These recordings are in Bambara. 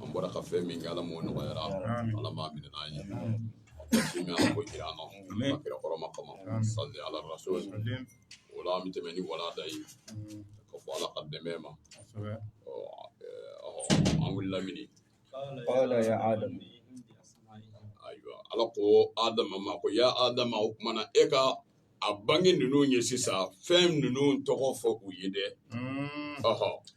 an bɔra ka fɛn min kɛ ala m'o nɔgɔyara ala m'a minɛna an ye min ala ko jira an na ka kira hɔrɔma kama sali ala rasul o la an bɛ tɛmɛ ni walanda ye ka fɔ ala ka dɛmɛ ma an wulila mini qala ya adam ayiwa ala ko adama ma ko ya adama o kuma na e ka a bange ninnu ye sisan fɛn ninnu tɔgɔ fɔ u ye dɛ ɔhɔ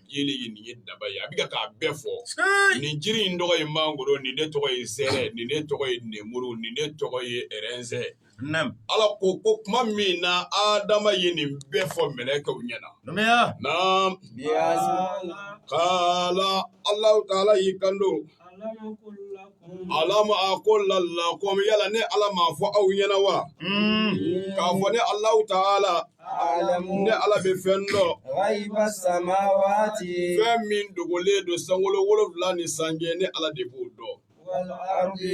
jiri ye nin ye daaba ye a bɛ k'a bɛɛ fɔ nin jiri in tɔgɔ ye mangoro nin ne tɔgɔ ye zɛrɛ nin ne tɔgɔ ye nemuru nin ne tɔgɔ ye ɛrɛnzɛ ala ko ko kuma min na adama ye nin bɛɛ fɔ mɛlɛkɛw ɲɛna naam kala ala taala y'i kanto Alam aqul lakum yala ne ala m'a fɔ aw ɲɛna wa k'a fɔ ne alahu taala ne ala bɛ fɛn dɔn fɛn min dogolen don sankolo wolonwula nin sanfɛ ne ala de b'o dɔn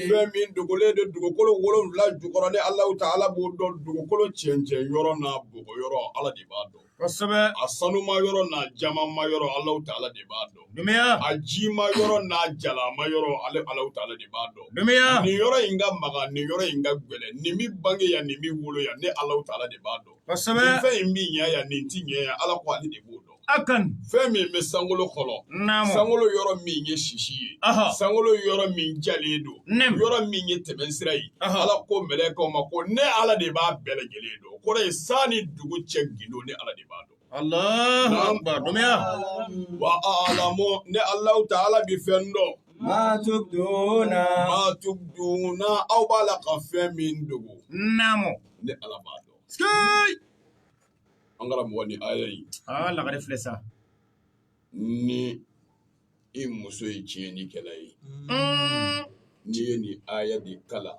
fɛn min dogolen don dugukolo wolonwula jukɔrɔ ne alahu taala b'o dɔn dugukolo cɛncɛn yɔrɔ n'a bɔgɔ yɔrɔ ala de b'a dɔn kosɛbɛ a sanuma yɔrɔ n'a jamanma yɔrɔ Alahu taala de b'a dɔn, dunbuya, a jima yɔrɔ n'a jalama yɔrɔ ale Alahu taala de b'a dɔn, dunbuya, nin yɔrɔ in ka magan nin yɔrɔ in ka gɛlɛn nin bɛ bange yan nin bɛ wolo yan ne Alahu taala de b'a dɔn, kosɛbɛ, nin fɛn in bɛ ɲɛ yan nin tɛ ɲɛ yan Ala ko ale de b'o dɔn. akan fɛn min bɛ sankolo kɔnɔ naamu sankolo yɔrɔ min ye sisi ye aha sankolo yɔrɔ min jalen don naamu yɔrɔ min ye tɛmɛnsira ye aha Ala ko mɛlɛkɛw ma ko ne Ala de b'a bɛɛ lajɛlen dɔn kɔrɔ ye san ni dugu cɛ gundo ne ala de b'a dɔn wa alamu ne alahu taala bɛ fɛn dɔn ma tubduna ma tubduna aw b'a la ka fɛn min dogo naamu ne ala b'a dɔn an karamɔgɔ ni ala ye aa lagare filɛ sa ni i muso ye tiɲɛnikɛla ye n'i ye nin aya de kalan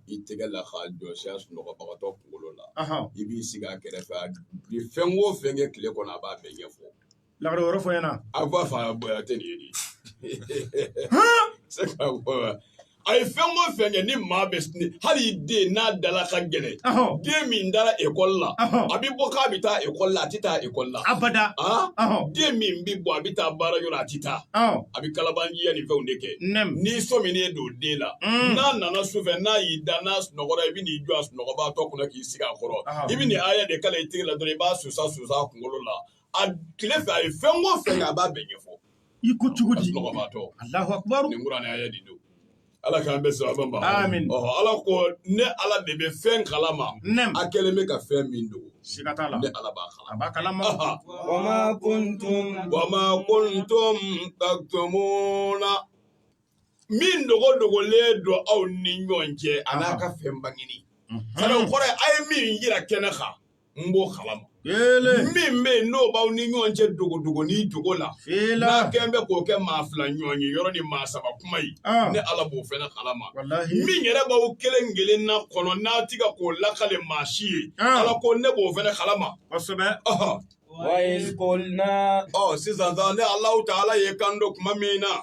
i tɛgɛ la k'a jɔɔsi a sunɔgɔbagatɔ kunkolo la i b'i sigi a kɛrɛfɛ a ye fɛn wo fɛn kɛ tile kɔnɔ a b'a bɛɛ ɲɛfɔ la yɔrɔ fɔ i ɲɛna a b'a fɔ a bɔ tɛ nin ye dɛ a ye fɛn o fɛn kɛ ni maa bɛ hali i den n'a dala ka gɛlɛn den min dara ekɔli la a bɛ bɔ k'a bɛ taa ekɔli la a tɛ taa ekɔli la abada den min bɛ bɔ a bɛ taa baara yɔrɔ a tɛ taa a bɛ kalabaanciya ni fɛnw de kɛ n'i sɔminen don den na mm. n'a nana su fɛ n'a y'i da n'a sunɔgɔra i bɛ n'i jɔ a sunɔgɔbaatɔ kunna k'i sigi a kɔrɔ i bɛ nin aya de kalan i tɛgɛ la dɔrɔn i b'a susa susa a kunkolo la a tile fɛ a ye fɛn o fɛn kɛ a b'a bɛɛ ɲɛfɔ i ko cogo di Alahu akibaru nin kuranɛ aya nin don Ala k'an bɛɛ sababa ma amin ɔhɔ Ala ko ne Ala de bɛ fɛn kalama naamu a kɛlen bɛ ka fɛn min dogo siga t'a la ne Ala b'a kalama a b'a kalama wa ma kuntum wa ma kuntum taktumuna min dogo dogolen don aw ni ɲɔgɔn cɛ a n'a ka fɛn bangini sariya kɔrɔ ye a ye min jira kɛnɛ kan n b'o kalama min bɛ yen n'o b'aw ni ɲɔgɔn cɛ dogodogonin dogo la n'a kɛlen bɛ k'o kɛ maa fila ɲɔgɔnye yɔrɔ ni maa saba kuma ye ne ala b'o fana kalama min yɛrɛ b'aw kelen kelenna kɔnɔ n'a tɛ ka k'o lakali maa si ye ala ko ne b'o fana kalama kosɛbɛ ɔ sisan ne alahu taala ye kan don tuma min na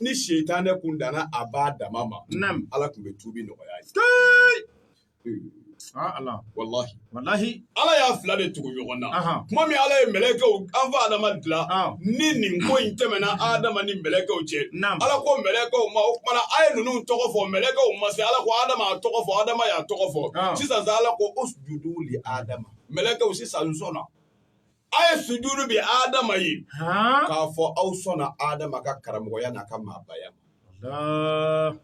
ni sitanɛ kun danna a ban dama ma ala tun bɛ tubi nɔgɔya a ye ala y'a fila de tugu ɲɔgɔn na tuma min ala ye mɛlɛkɛw an fa adama dilan ni nin ko in tɛmɛna adama ni mɛlɛkɛw cɛ ala ko mɛlɛkɛw ma o tuma na a ye ninnu tɔgɔ fɔ mɛlɛkɛw ma se ala ko adama tɔgɔ fɔ adama y'a tɔgɔ fɔ sisan ala ko usjudu li adama mɛlɛkɛw sisan sɔnna A ye sujudu di Adama ye, han, k'a fɔ aw sɔnna Adama ka karamɔgɔya n'a ka maabaya ma, Alaa,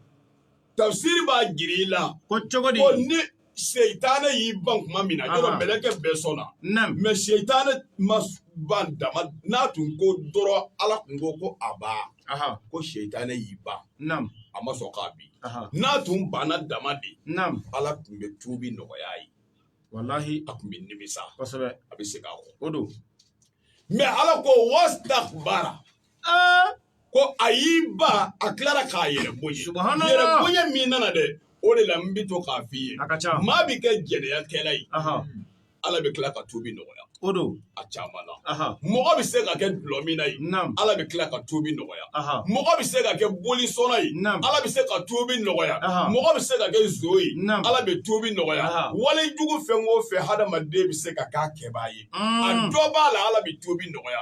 tafisiri b'a jira i la, ko cogo di? ko ni sitana y'i ban tuma min na, Anhan, yɔrɔ mɛlɛkɛ bɛɛ sɔnna, naamu, mais sitana ma ban dama n'a tun ko dɔrɔn Ala tun ko ko abaa, ahan, ko sitana y'i ban, naamu, a ma sɔn ka bin, ahan, n'a tun banna dama de, naamu, Ala tun bɛ tuubi nɔgɔya a ye. walahi a tun bɛ nimisa kosɛbɛ a bɛ segin a kɔ o don mais ala ko wastakbara aa ko a y'i ban a tilara k'a yɛrɛ bonya Subhanallah. yɛrɛ bonya min nana dɛ o de la n bɛ to k'a f'i ye a ka ca maa bɛ kɛ jɛnɛyakɛla ye ahan ala bɛ tila ka tubi nɔgɔya O don a caman na mɔgɔ bɛ se ka kɛ dulɔminna ye ala bɛ tila ka tubi nɔgɔya mɔgɔ bɛ se ka kɛ bolisɔnna ye ala bɛ se ka tubi nɔgɔya mɔgɔ bɛ se ka kɛ nson ye ala bɛ tubi nɔgɔya wali jugu fɛn o fɛn hadamaden bɛ se ka kɛ a kɛbaa ye a dɔ b'a la ala bɛ tubi nɔgɔya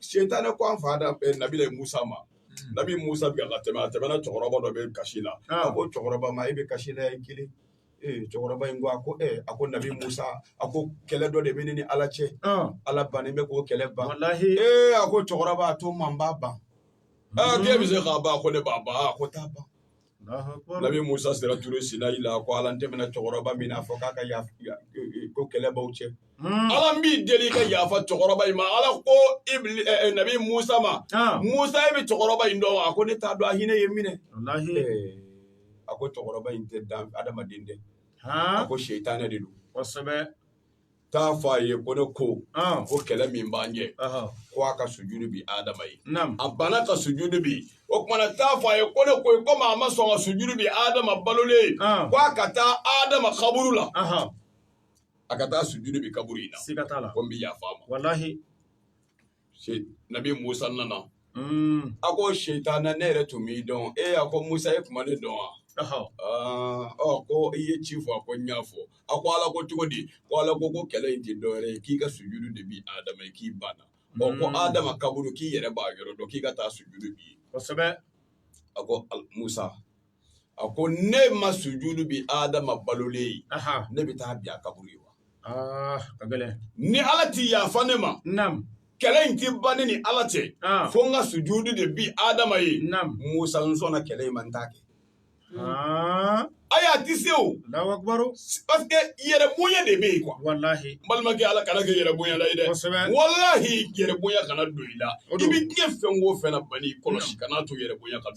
Sitanɛ ko an fa da nabila musa ma nabi musa bɛ ka tɛmɛ a tɛmɛna cɛkɔrɔba dɔ bɛ kasi la a ko cɛkɔrɔba ma e bɛ kasi la yan i kelen cɛkɔrɔba in ko a ko a ko nabi musa a ko kɛlɛ dɔ de bɛ ne ni ala cɛ ala bannen bɛ k'o kɛlɛ ban ee a ko cɛkɔrɔba a to n ma n b'a ban n bɛ se k'a ban ko ne b'a ban ko taa ban Nabi Musa sera Ture Sinayi la ko Ala n tɛmɛna cɛkɔrɔba min na fɔ k'a ka yaf ya e e ko kɛlɛ b'aw cɛ unnn Ala n b'i deli i ka yafa cɛkɔrɔba in ma Ala ko ibli ɛ ɛ Nabi Musa ma ɔɔn Musa e bɛ cɛkɔrɔba in dɔn wa a ko ne t'a dɔn a hinɛ ye n minɛ walahi ee a ko cɛkɔrɔba in tɛ dan adamaden dɛ haan a ko sitanɛ de don kosɛbɛ t'a fɔ a ye ko ne ko ko kɛlɛ min b'an cɛ ko a ka sujudu bin adama ye a banna ka sujudu bin o tuma na t'a fɔ a ye ko ne ko komi a ma sɔn ka sujudu bin adama balolen ye ko a ka taa adama kaburu la a ka taa sujudu bin kaburu in na ko n bi yafa a ma nabi musa nana a ko seyitana ne yɛrɛ tun m'i dɔn e a ko musa e tun ma ne dɔn wa ɔ ko i ye ci fɔ a ko n y'a fɔ a ko ala ko cogo di ko ala ko ko kɛlɛ in tɛ dɔwɛrɛ ye k'i ka sujudu de bin adama ye k'i banna ɔ ko adama kaburu k'i yɛrɛ b'a yɔrɔ dɔn k'i ka taa sujudu bin yen kosɛbɛ a ko musa a ko ne ma sujudu bin Adama balolen ye, anhan, ne bɛ taa bin a kaburu ye wa? aa ka gɛlɛn Ni Ala tɛ yafa ne ma, naam kɛlɛ in tɛ ban ne ni Ala cɛ, Ah. fo n ka sujudu de bin Adama ye. naam Musa n sɔnna kɛlɛ in ma n t'a kɛ. aa Ayi a tɛ se o, Allahu akbaru parce que yɛrɛ bonya de bɛ yen quoi. walahi N balimakɛ Ala kana an kɛ yɛrɛ bonyala ye dɛ. kosɛbɛ Walahi yɛrɛ bonya kana don i la. O I don. bɛ diɲɛ fɛn o fɛn na bani kɔlɔsi kana to yɛrɛ bonya ka don.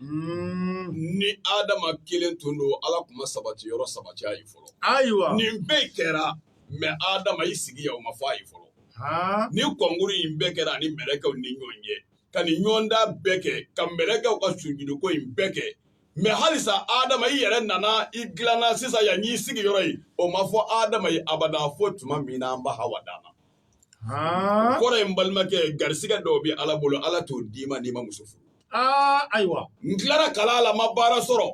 ni adama kelen tun don ala tun ma sabati yɔrɔ sabati a ye fɔlɔ ayiwa nin bɛɛ kɛra mɛ adama i sigi yan o ma fɔ a ye fɔlɔ nin kɔnkuru in bɛɛ kɛra a ni mɛlɛkɛw ni ɲɔgɔn cɛ ka nin ɲɔgɔndan bɛɛ kɛ ka mɛlɛkɛw ka sujuduko in bɛɛ kɛ mɛ halisa adama i yɛrɛ nana i dilanna sisan yan y'i sigi yɔrɔ ye o ma fɔ adama ye abada fo tuma min na an ba hawa danna kɔrɔ n balimakɛ garisɛgɛ dɔw bɛ ala bolo ala t'o d'i ma n'i ma muso furu ayiwa n tilara kalan la n ma baara sɔrɔ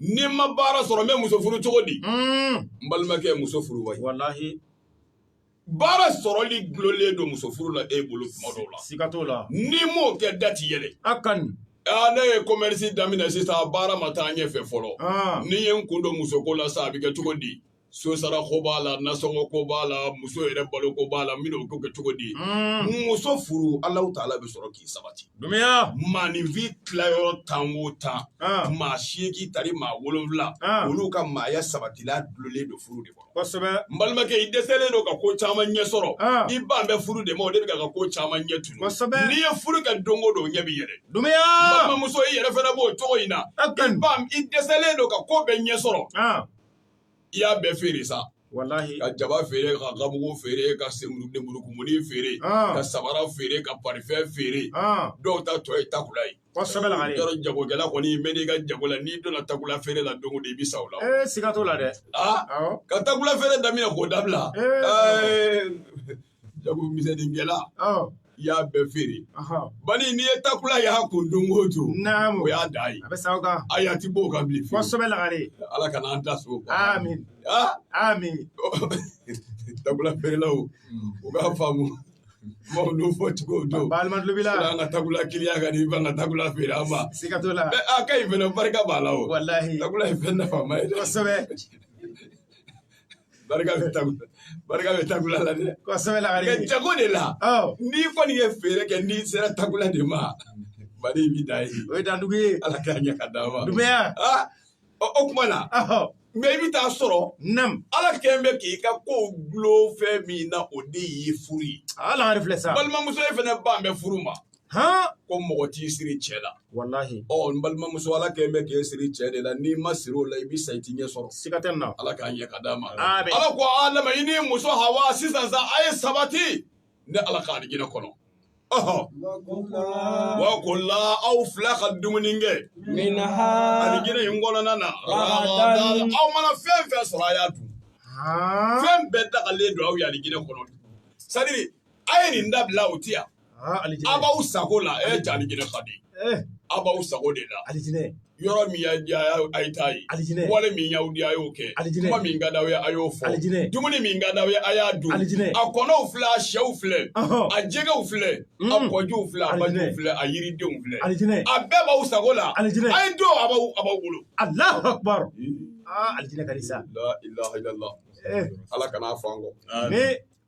ni n ma baara sɔrɔ n bɛ muso furu cogo di hmm. n balimakɛ muso furu wa i baara sɔrɔli dulolen don muso furu la e bolo tuma dɔw la siga t'o la n'i m'o kɛ da ti yɛlɛ a ka ɲi aa ne ye commerce daminɛ sisan baara ma taa ɲɛfɛ fɔlɔ ni n ye n kun don musoko la sa a bɛ kɛ cogo di so sara ko b'a la nasɔngɔ ko b'a la muso yɛrɛ balo ko b'a la n bɛn'o ko kɛ cogo di muso furu alahu taala bɛ sɔrɔ k'i sabati maaninfin tilayɔrɔ tan o tan maa seegin tari maa wolonwula olu ka maaya sabatila dulolen don furu de kɔnɔ kosɛbɛ n balimakɛ i dɛsɛlen don ka ko caman ɲɛ sɔrɔ i ban bɛ furu de ma o de bɛ ka ko caman ɲɛ tunun kosɛbɛ n'i ye furu kɛ don o don ɲɛ b'i yɛrɛ dumiya balimamuso i yɛrɛ fana b'o cogo in na i ba i dɛsɛlen don ka ko bɛɛ ɲɛ sɔrɔ i y'a bɛɛ feere sa walahi ka jaba feere ka ganmugu feere ka lemurukumuni feere ka samara feere ka parifɛn feere dɔw ta tɔ ye takula ye yɔrɔ jagokɛla kɔni bɛ mɛn i ka jago la n'i donna takula feere la don i bɛ sa la siga t'o la dɛ ka takula feere daminɛ k'o dabila jago misɛnninkɛla i y'a bɛɛ feere bani n'i ye takula y'a kun don o don o y'a dan ye a bɛ sa o kan ayi a ti bɔ o kan bilen kosɛbɛ lagare ala kana an da so o kan amin amin takula feerelaw u k'a faamu maaw n'o fɔ cogo don balima tulo b'i la an ka takula kiliya ka di i ban ka takula feere an ma siga t'o la a ka ɲi fɛnɛ barika b'a la o walahi takula ye fɛn nafama ye kosɛbɛ barika bɛ tagu barika bɛ takula la dɛ kosɛbɛ lagare nka jago de la n'i kɔni ye feere kɛ n'i sera takula de ma mali b'i dan ye o ye dandugu ye ala k'a ɲɛ k'a d'an ma duguya o kuma na mɛ i bɛ taa sɔrɔ nam ala kɛlen bɛ k'i ka kow gulon fɛn min na o de y'i furu ye ala lagare filɛ sa balimamuso ye fɛnɛ ban bɛ furu ma h ko mɔgɔ t'i siri cɛ la walahi ɔ n balimamuso ala kɛ bɛ k'i siri cɛ de la n'i ma siri o la i bɛ sa i tɛ ɲɛ sɔrɔ siga tɛ na ala k'a ɲɛ k'a d'an ma ala ko adama i ni muso hawa sisan sa a ye sabati ne ala ka alijinɛ kɔnɔ wa kula aw fila ka dumuni kɛ alijinɛ in kɔnɔna na aw mana fɛn fɛn sɔrɔ a y'a dun fɛn bɛɛ dagalen don aw ye alijinɛ kɔnɔ sadiri A ye nin dabila o tɛ yan a b'aw sago la e alijinɛ fa di a b'aw sago de la yɔrɔ min a ye taa yen wale min y'aw di a y'o kɛ kuma min ka di aw ye a y'o fɔ dumuni min ka di aw ye a y'a dun a kɔnɔw filɛ a shɛw filɛ a jɛgɛw filɛ a kɔjuw filɛ a balima filɛ a yiridenw filɛ a bɛɛ b'aw sago la a y'a dun a b'aw bolo a la sa ala kan'a fɔ an kɔ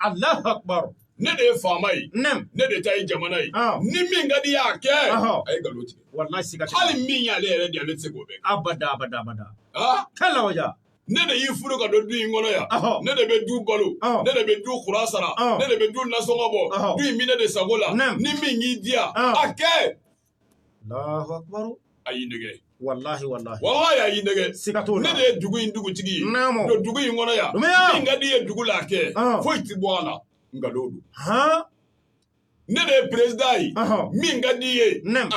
Allahu akbar ne de ye faama ye ne de ta ye jamana ye ni min ka d'i ye a kɛ a ye nkalon tigɛ hali min y'ale yɛrɛ di a tɛ se k'o kɛ abadabada kalaja ne de y'i furu ka don du in kɔnɔ yan ne de bɛ du balo ne de bɛ du kuran sara ne de bɛ du nasɔngɔ bɔ du in bɛ ne de sago la ni min y'i diya a kɛ a y'i nɛgɛn walahi walahi walahi a y'i nɛgɛn siga t'o la ne de ye dugu in dugutigi ye naamu don dugu in kɔnɔ yan Dunbuya min ka d'i ye dugu la a kɛ foyi tɛ bɔ a la nkalon don han ne de ye président ye min ka d'i ye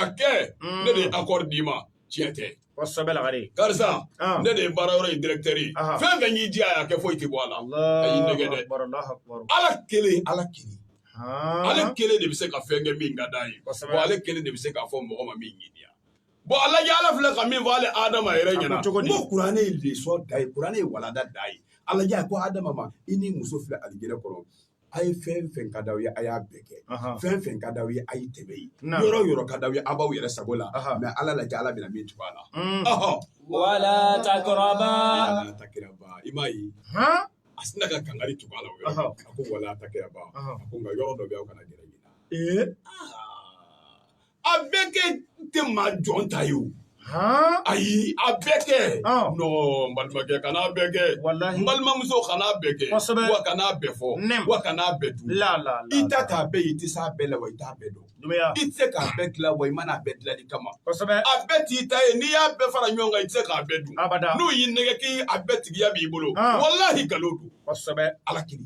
a kɛ ne de ye accord d'i ma tiɲɛ tɛ Kosɛbɛ lagare karisa ne de ye baara yɔrɔ in directeur ye fɛn fɛn y'i diya a kɛ foyi tɛ bɔ a la a y'i nɛgɛn dɛ ala kelen ala kelen ale kelen de bɛ se ka fɛn kɛ min ka d'a ye ale kelen de bɛ se k'a fɔ mɔgɔ ma min ɲini bɔn ala ala filɛ ka min fɔ ale adama yɛrɛ ɲɛna cogo kuranɛ ye lesɔn d'an ye kuranɛ ye walanda d'an ye ala ko adama ma i ni muso filɛ alijinɛ kɔnɔ a ye fɛn fɛn ka di aw ye a y'a bɛɛ kɛ fɛn fɛn ka di aw ye a ye tɛmɛ yen yɔrɔ yɔrɔ ka di aw ye aw b'aw yɛrɛ sago la mɛ ala lajɛ ala bɛna min tugu a la wala takiraba wala takiraba i m'a ye a sina ka kangari tugu a la o yɔrɔ a ko wala takiraba a ko nka yɔrɔ dɔ bɛ aw kana gɛrɛ nin na ee a bɛɛ kɛ tɛ maa jɔn ta ye o ayi a bɛɛ kɛ n balimakɛ kana a bɛɛ kɛ n balimamuso kana a bɛɛ kɛ wa kana a bɛɛ fɔ wa kana a bɛɛ dun i ta t'a bɛɛ ye i tɛ se a bɛɛ la wa i t'a bɛɛ dɔn i tɛ se k'a bɛɛ dilan wa i ma na a bɛɛ dilanni kama a bɛɛ t'i ta ye n'i y'a bɛɛ fara ɲɔgɔn kan i tɛ se k'a bɛɛ dun n'u y'i nɛgɛn k'i a bɛɛ tigiya b'i bolo walahi nkalon don ala kiri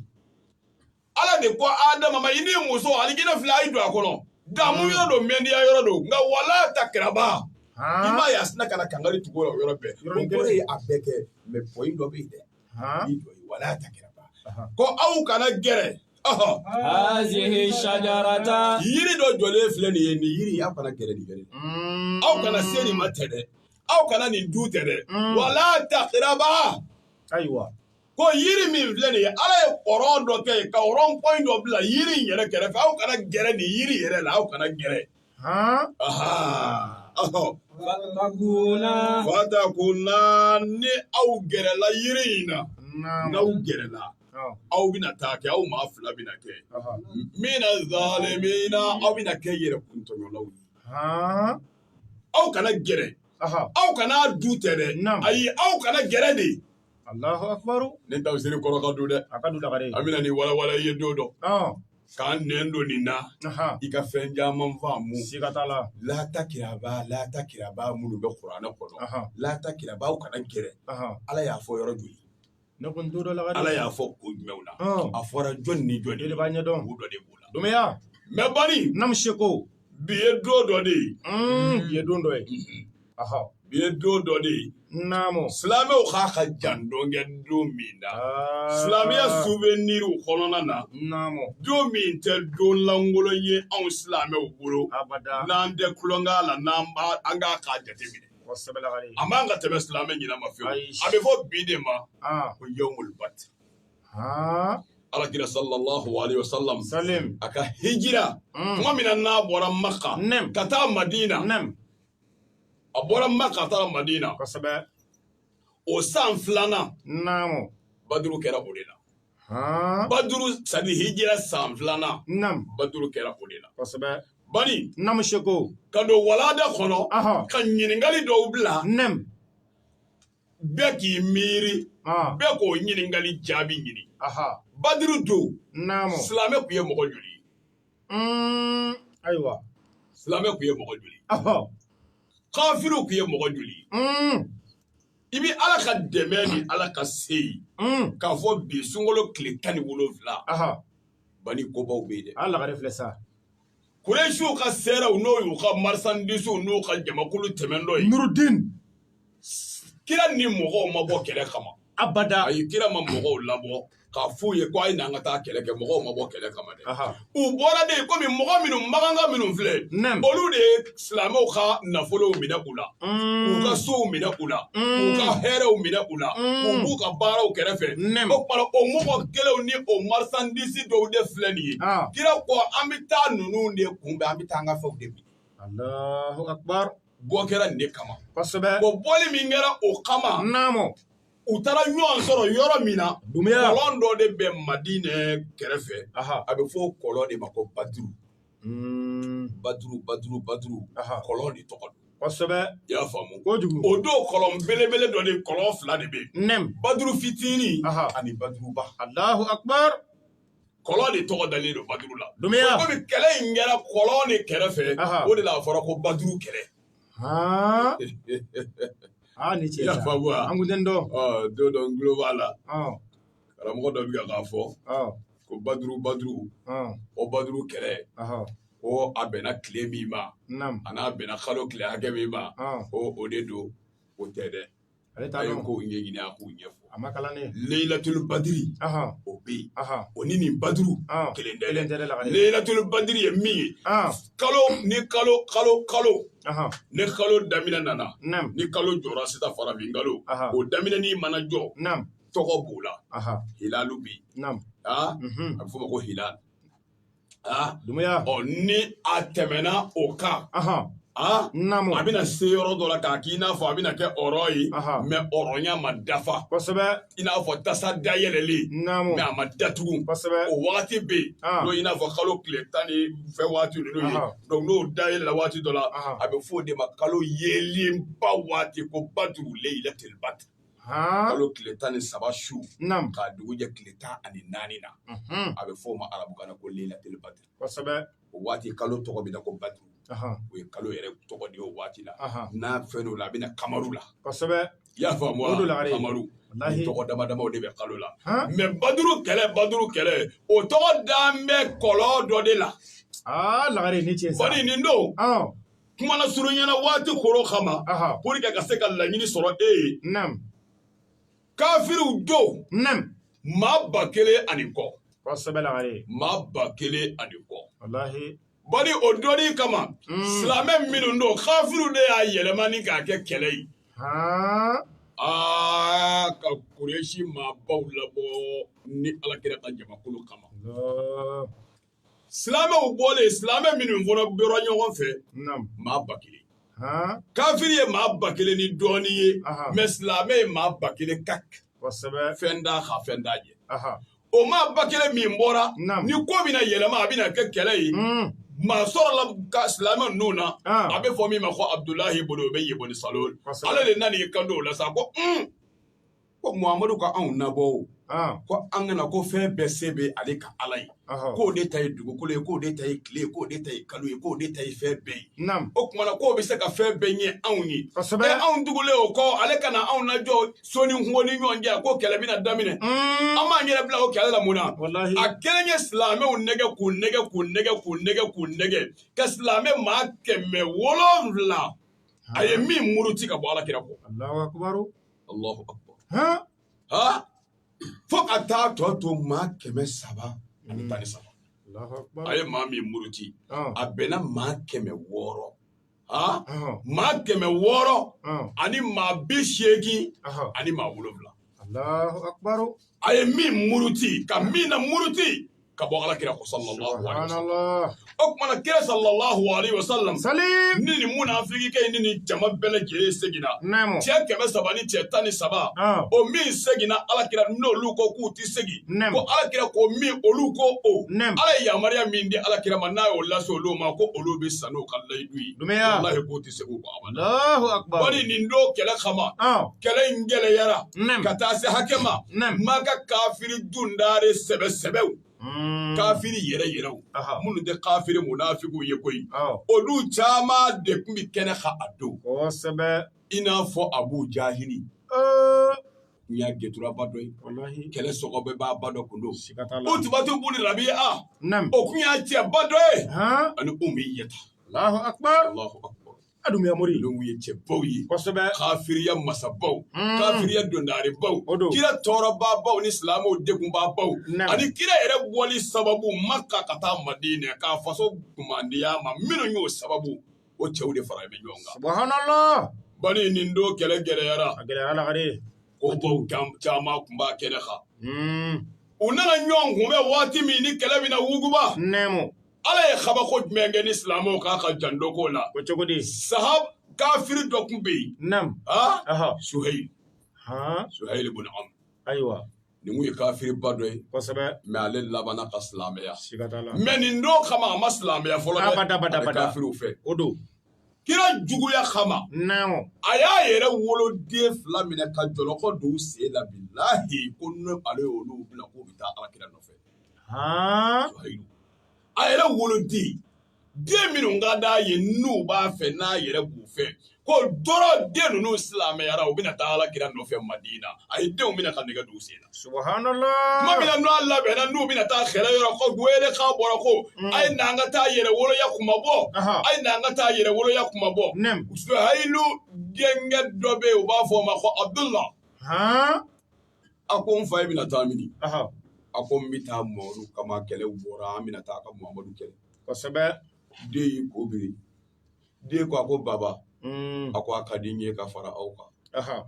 ala de ko adama ma i ni muso alijinɛ filɛ a ye don a kɔnɔ damu hmm. yɔrɔ don mɛndiya yɔrɔ don nka wala takiraba i m'a ye a sina ka na kangari tugu o yɔrɔ bɛɛ o kɔrɔ ye a bɛɛ kɛ mɛ pɔyi dɔ bɛ yen dɛ i jɔ yen wala takiraba ko aw kana gɛrɛ hazihi shajarata yiri dɔ jɔlen filɛ nin ye nin yiri in aw kana gɛrɛ nin gɛrɛ hmm. aw kana se nin ma tɛ dɛ aw kana nin dun tɛ dɛ hmm. wala takiraba ayiwa ko yiri min filɛ nin ye ala ye kɔrɔn dɔ kɛ ka rɔn pɔn dɔ bila yiri in yɛrɛ kɛrɛfɛ aw kana gɛrɛ nin yiri yɛrɛ la aw kana gɛrɛ fatakuna ni aw gɛrɛla yiri in na n'aw gɛrɛla aw bɛna taa kɛ aw maa fila bɛna kɛ mina zalimina aw bɛna kɛ yɛrɛkun tɔɲɔlaw ye aw kana gɛrɛ aw kana dun tɛ dɛ ayi aw kana gɛrɛ de nin tafsiri kɔrɔ ka dun dɛ a ka dun a bɛna ni walawala ye don dɔ k'an nɛn don nin na i ka fɛn caman faamu siga t'a la la takiraba la takiraba minnu bɛ kuranɛ kɔnɔ la takiraba a kana gɛrɛ ala y'a fɔ yɔrɔ joli ne ko n to dɔ la ala y'a fɔ ko jumɛnw na a fɔra jɔn ni jɔn de b'a ɲɛdɔn dɔ de b'o la dɔmɛya mɛ bani naamu seko bi ye don dɔ de ye bi ye don dɔ ye Ɔhɔ, bi ye don dɔ de ye, naamu, silamɛw k'a ka jan dɔn kɛ don min na, aa, silamɛya souvenir kɔnɔna na, naamu, don min tɛ don lankolon ye anw silamɛw bolo, abada, n'an tɛ tulonkɛ a la, n'an b'a an k'a k'a jateminɛ, kosɛbɛ lakaale, a man ka tɛmɛ silamɛ ɲinɛ ma fiyewu, ayi, a bɛ fɔ bi de ma, an, ko yawmul badr, haa, alakira salalaha walema salam, salim, a ka hijira, un, tuma min na n'a bɔra maka, nɛm, ka taa madina, nɛm. a bɔra maka taara madina kosɛbɛ o san filanan naamu baduru kɛra o de la baduru sabi hijira san filanan naamu baduru kɛra o de la kosɛbɛ bani naamu seko ka don walanda kɔnɔ ka ɲininkali dɔw bila naamu bɛɛ k'i miiri bɛɛ k'o ɲininkali jaabi ɲini baduru don naamu silamɛ tun ye mɔgɔ joli Ayiwa silamɛ tun ye mɔgɔ joli kafiriw tun ye mɔgɔ joli i bɛ ala ka dɛmɛ ni ala ka se k'a fɔ bi sunkalo tile tan ni wolo wolonwula ban kobaw bɛ yen ala lagare filɛ sa kurɛsiw ka sɛrɛw n'o y'u ka marisandisiw n'u ka jamakulu tɛmɛntɔ ye muruden kira ni mɔgɔw ma bɔ kɛlɛ kama abada a ye kira ma mɔgɔw labɔ k'a f'u ye ko a ye n'an ka taa kɛlɛ kɛ mɔgɔw ma bɔ kɛlɛ kama dɛ u bɔra de komi mɔgɔ minnu makanka minnu filɛ olu de ye silamɛw ka nafolow minɛ u la mm. k'u ka sow minɛ u la mm. k'u ka hɛrɛw minɛ u la mm. k'u b'u ka baraw kɛrɛfɛ o kɔrɔ o mɔgɔ kelenw ni o marisandisi dɔw de filɛ nin ye ah. kira ko an bɛ taa ninnu de kunbɛn an bɛ taa an ka fɛnw de minɛ Allahu akbar bɔ kɛra nin de kama kosɛbɛ bon bɔli min kɛra o kama naamu u taara ɲɔgɔn sɔrɔ yɔrɔ min na Dunbiya. kɔlɔn dɔ de bɛ madinɛ kɛrɛfɛ aha a bɛ fɔ o kɔlɔn de ma ko baduru Mm, baduru baduru baduru aha kɔlɔn de tɔgɔ don kosɛbɛ i y'a faamu kojugu o don kɔlɔn belebele dɔ de kɔlɔn fila de bɛ yen naamu baduru fitinin Aha. ani baduruba alahu akbar kɔlɔn de tɔgɔ dalen don baduru la Dunbiya! komi kɛlɛ in kɛra kɔlɔn de kɛrɛfɛ Aha. o de la a fɔra ko baduru kɛlɛ Haa! Aa, ni ce i y'a faamu wa An kun tɛ nin dɔn. Ɔ, don dɔ n tulo b'a la Ɔn, karamɔgɔ dɔ bɛ ka k'a fɔ ɔn, ko baduru baduru ɔn, o baduru kɛlɛ ɔhɔ, ko a bɛnna tile min ma naamu, ani a bɛnna kalo tile hakɛ min ma ɔn. ko o de don o tɛ dɛ ale taa ko ɲɛ ɲini a k'u ɲɛ a ma kalan leyilatulu badiri o bɛ yen o ni nin baduru kelen tɛ leyilatulu badiri ye min ye kalo ni kalo kalo kalo ni kalo daminɛ nana ni kalo jɔra sisan farafin kalo o daminɛ ni mana jɔ tɔgɔ b'o la hilalu bɛ yen a bɛ f'o ma ko hilali Ah, Dumbuya. Ɔ ni a tɛmɛna o kan. Ahan. Ah, Naamu. a bɛna se yɔrɔ dɔ la k'a k'i n'a fɔ a bɛna kɛ ɔrɔ ye. Aha. Mɛ ɔrɔnya ma dafa. Kosɛbɛ. I n'a fɔ tasa dayɛlɛlen. Naamu. Mɛ a ma datugu. Kosɛbɛ. O wagati bɛ yen. Ah. N'o i n'a fɔ kalo tile tan ni fɛn waati ninnu ye. Aha. Donc n'o dayɛlɛla waati dɔ la, Aha. a bɛ fɔ o de ma kalo yeelenba waati ko baduru leyilatil badr. kalo tile tan ni saba su k'a dugu jɛ tile tan ani naani na a bɛ f'o ma arabukan na ko lelatul baduru o waati kalo tɔgɔ bɛ ko baduru o ye kalo yɛrɛ tɔgɔ de o waati la n'a fɛn o la a bɛ kamaru la i y'a faamuya tɔgɔ dama dama de bɛ kalo la mɛ baduru kɛlɛ baduru kɛlɛ o tɔgɔ dalen bɛ kɔlɔn dɔ de la lagare ni cɛ nin don kuma na surunyana waati koron kama pour que ka se ka laɲini sɔrɔ ee kafiriw don maa ba kelen ani kɔ maa ba kelen ani kɔ bari o don in kama hmm. silamɛ minnu don kafiriw de y'a yɛlɛma ni k'a kɛ kɛlɛ ye aa ka kuresi maabaw labɔ ni alakira ka jamakulu kama silamɛw bɔlen silamɛ minnu fɔlɔ bɔra ɲɔgɔn fɛ maa ba kelen kafiri ye maa ba kelen ni dɔɔni ye mɛ silamɛ ye maa ba kelen ka fɛn da ka fɛn da jɛ o maa ba kelen min bɔra ni ko bɛna yɛlɛma a bɛna kɛ kɛlɛ ye hmm. maa sɔrɔla ka silamɛ ninnu na ah. a bɛ fɔ min ma ko abudulayi bonu obeyi boni salul ale de nana i kanto o la sa ko hmm. ko Muhamadu ka anw nabɔ o, ɔn, ko an ka na ko fɛn bɛɛ se bɛ ale ka Ala ye, ɔhɔ, k'o de ta ye dugukolo ye, k'o de ta ye tile ye, k'o de ta ye kalo ye, k'o de ta ye fɛn bɛɛ ye. naamu, O tuma na k'o bɛ se ka fɛn bɛɛ ɲɛ anw ye. kosɛbɛ, Ɛ anw tugulen o kɔ ale ka na anw lajɔ so ni kungo ni ɲɔgɔn cɛ ko kɛlɛ bɛna daminɛ. un, An b'an yɛrɛ bila o kɛlɛ la mun na? walahi, A kelen ye silamɛw nɛgɛn k'u nɛgɛn k'u nɛgɛn k'u nɛgɛn k'u nɛgɛn ka silamɛ maa kɛmɛ wolonwula a ye min muruti ka bɔ alakira kɔ. Alahu akibaru. fo ka taa tɔ to maa kɛmɛ saba ani tan ni saba a ye maa min muruti a bɛnna maa kɛmɛ wɔɔrɔ maa kɛmɛ wɔɔrɔ ani maa bi seegin ani maa wolonwula a ye min muruti ka min namuruti ka bɔ ala kira kɔ sallallahu alaihi wasallam o kumana kira sallallahu alaihi wasallam ni nin munafiki kɛ nin ni jama bɛɛ lajɛlen seginna cɛ kɛmɛ saba ni cɛ tan ni saba o min seginna ala kira n'olu ko k'u ti segin ko ala kira ko min olu ko o ala ye yamaruya min di ala kira ma n'a y'o lase olu ma ko olu bɛ sa n'o ka layidu ye walahi k'o ti segin bari nin don kɛlɛ kama kɛlɛ in gɛlɛyara ka taa se hakɛ ma Maka kafiri dundare sɛbɛ sɛbɛw hmm. kafiri yɛrɛ yɛrɛw minnu tɛ kafiri munafigiw ye koyi olu caman de tun bɛ kɛnɛ kan a don i n'a fɔ abu jahili n y'a gɛnturaba dɔ ye kɛlɛ sɔgɔ bɛɛ b'a ba dɔ kun don utubatu bun rabia o kun y'a cɛba dɔ ye ani umayata a dumuya mori ninnu ye cɛbaw ye kosɛbɛ kafiriya masabaw hmm. kafiriya dondarebaw kira tɔɔrɔbaabaw ni silamɛw degunbaabaw ani kira yɛrɛ bɔli sababu maka ka taa madina k'a faso kumandiya ma minnu y'o sababu o cɛw de faralen bɛ ɲɔgɔn kan subhanallah bani nin don kɛlɛ gɛlɛyara a gɛlɛyara dɛ kobaw caman tun b'a kɛnɛ kan hmm. u nana ɲɔgɔn kunbɛn waati min ni kɛlɛ bɛna wuguba naamu ala ye kabako jumɛn kɛ ni silamɛw k'a ka jandoko la o cogo di sahab kafiri dɔ tun bɛ yen naamu suhayil suhayil bun amr ayiwa nin ye kafiriba dɔ ye mɛ ale labanna ka silamɛya mɛ nin don kama a ma silamɛya fɔlɔ kafiriw fɛ o don kira juguya kama a y'a yɛrɛ woloden fila minɛ ka jɔlɔkɔ don u sen la bilahi ko n'ale y'olu bila k'u bɛ taa ala kira nɔfɛ a yɛrɛ woloden den minnu ka d'a ye n'u b'a fɛ n'a yɛrɛ b'u fɛ ko dɔrɔn den ninnu silamɛyara u bɛna taa ala kira nɔfɛ madina a ye denw minɛ ka nɛgɛ don u sen na tuma min na n'u labɛnna n'u bɛna taa kɛlɛ yɔrɔ ko welekan bɔra ko mm. a ye n'an ka taa yɛrɛwoloya kunmabɔ a ye n'an ka taa yɛrɛwoloya kunmabɔ suhayilu denkɛ dɔ bɛ yen u b'a fɔ o ma ko abudula a ko n fa i bɛna taa mini a ko n bɛ taa mɔgɔw kama kɛlɛ bɔra an bɛna taa ka mamadu kɛlɛ kosɛbɛ den y'i kun biri den ko a ko baba mm. a ko a ka di n ye ka fara aw kan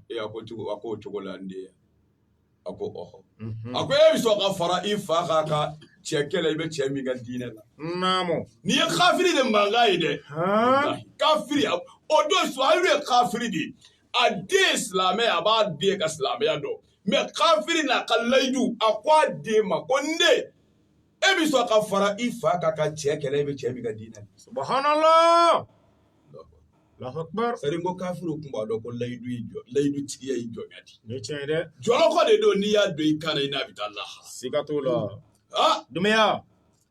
e a ko cogo a ko o cogo la n den a ko ɔhɔ mhm. a ko e bɛ sɔn ka fara i fa kan ka cɛ kɛlɛ i bɛ cɛ min ka diinɛ la naamu nin ye kafiri de mankan ye dɛ kafiri o don suhayilu ye kafiri de ye a den ye silamɛ ye a b'a den ka silamɛya dɔn mɛ kafiri n'a ka layidu a ko a den ma ko n den e bɛ sɔn ka fara i fa kan ka cɛ kɛlɛ e bɛ cɛ min ka diinɛ na subhanallah sari ko kafiriw tun b'a dɔn ko layidu ye jɔ layidu tigiya ye jɔnya de ye tiɲɛ ye dɛ jɔlɔkɔ de don n'i y'a don i kan na i n'a bɛ taa lahara siga t'o la ah dumuya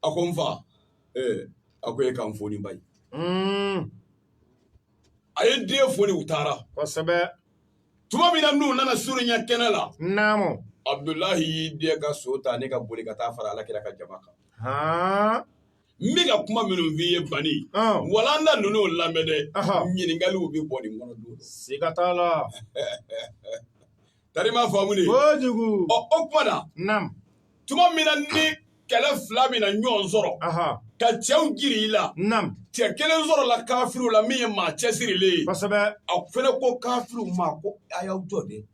a ko n fa ee a ko e ka n foni ba ye a ye den foni u taara kosɛbɛ tuma min na n'u nana surunya kɛnɛ la naamu abudulahi y'i dɛn ka so tan ka boli ka taa fara ala kira ka jama kan an bɛ ka kuma minnu f'i ye bani walanda ninnu lamɛn dɛ ɲininkaliw bɛ bɔ nin kɔnɔ don siga t'a la Tari m'a faamu dɛ, kojugu, ɔ o tuma na, naamu, tuma min na ni kɛlɛ fila min na ɲɔgɔn sɔrɔ, ɔhɔ, ka cɛw jiri i la, naamu, cɛ kelen sɔrɔla kafiriw la min ye maa cɛsirilen ye, kosɛbɛ, a fɛnɛ ko kafiriw ma ko a y'aw jɔ dɛ,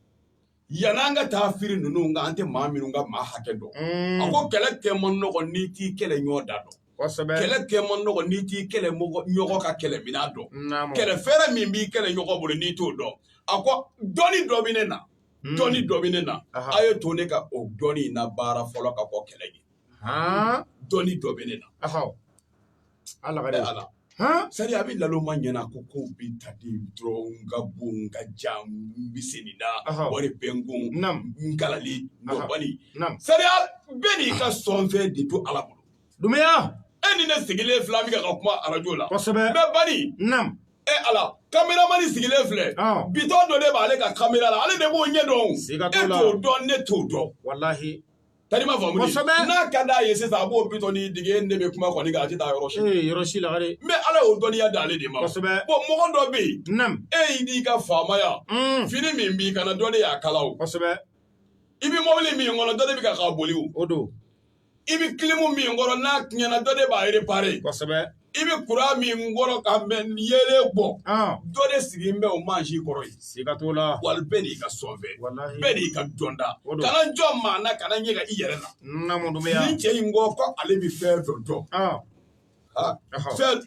yann'an ka taa firi ninnu kan an tɛ maa minnu ka maa hakɛ dɔn, un, a ko kɛlɛ kɛ man nɔgɔ n'i t'i kɛlɛɲɔgɔn da dɔn. kɛlɛ kɛ man nɔgɔ n'i t'i kɛlɛɲɔgɔn ka kɛlɛminan dɔn kɛlɛ fɛɛrɛ min b'i kɛlɛɲɔgɔn bolo n'i t'o dɔn a ko dɔnni dɔ bɛ ne na hmm. dɔnni dɔ bɛ ne na a ye to ne ka o dɔnni in nabaara fɔlɔ ka kɔn kɛlɛ ɲɛ dɔnni dɔ bɛ ne na ala ala sariya bɛ lalo ma ɲɛna ko ko bɛ ta di dɔrɔn ka bon ka ja bɛ se nin na wari bɛ n kun n kalali nɔbali sariya bɛɛ n'i ka sɔnfɛn de don ala bolo Dumbuya e ni ne sigilen fila bɛ ka kuma arajo la kosɛbɛ mɛ bani e ala kameramani sigilen filɛ bitɔn dɔ de b'ale ka kamera la ale de b'o ɲɛ dɔn e t'o dɔn ne t'o dɔn walahi tari m'a faamu kosɛbɛ n'a ka d'a ye sisan a b'o bitɔn nin digi ne bɛ kuma kɔni nka a tɛ taa yɔrɔ si yɔrɔ si la dɛ mɛ ala y'o dɔnniya d'ale de ma kosɛbɛ bɔn mɔgɔ dɔ bɛ yen e y'i n'i ka faamaya fini min b'i kan na dɔ de y'a kala o kosɛbɛ i bɛ mɔbili min kɔnɔ dɔ de bɛ kan k'a boli o don i bɛ kilimu min kɔrɔ n'a tiɲɛna dɔ de b'a repare kosɛbɛ i bɛ kuran min kɔrɔ ka mɛnɛ yeelen bɔ dɔ de sigilen bɛ o mansin kɔrɔ yen siga t'o la walahi bɛɛ n'i ka sɔnfɛn bɛɛ n'i ka dɔnta kana jɔn maa na kana ɲɛ ka i yɛrɛ la nin cɛ in ko ko ale bɛ fɛn dɔ dɔn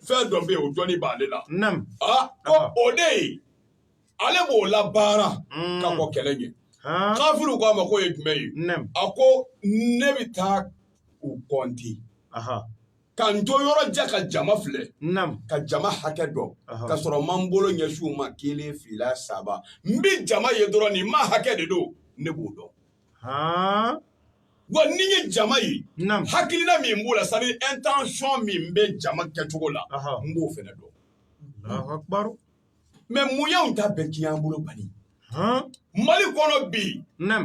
fɛn dɔ bɛ yen o dɔnni b'ale la ko o de ye ale b'o labaara ka kɔn kɛlɛ ɲɛ kafiriw k'a ma k'o ye jumɛn ye a ko ne bɛ taa u kɔnte ka n to yɔrɔ jan ka jama filɛ ka jama hakɛ dɔn k'a sɔrɔ n ma n bolo ɲɛsin u ma kelen fila saba n bɛ jama ye dɔrɔn nin maa hakɛ de don ne b'o dɔn wa ni n ye jama ye hakilina min b'u la c'est à dire intention min bɛ jama kɛcogo la n b'o fɛnɛ dɔn mɛ mun y'anw ta bɛɛ tiɲɛ an bolo bani mali kɔnɔ bi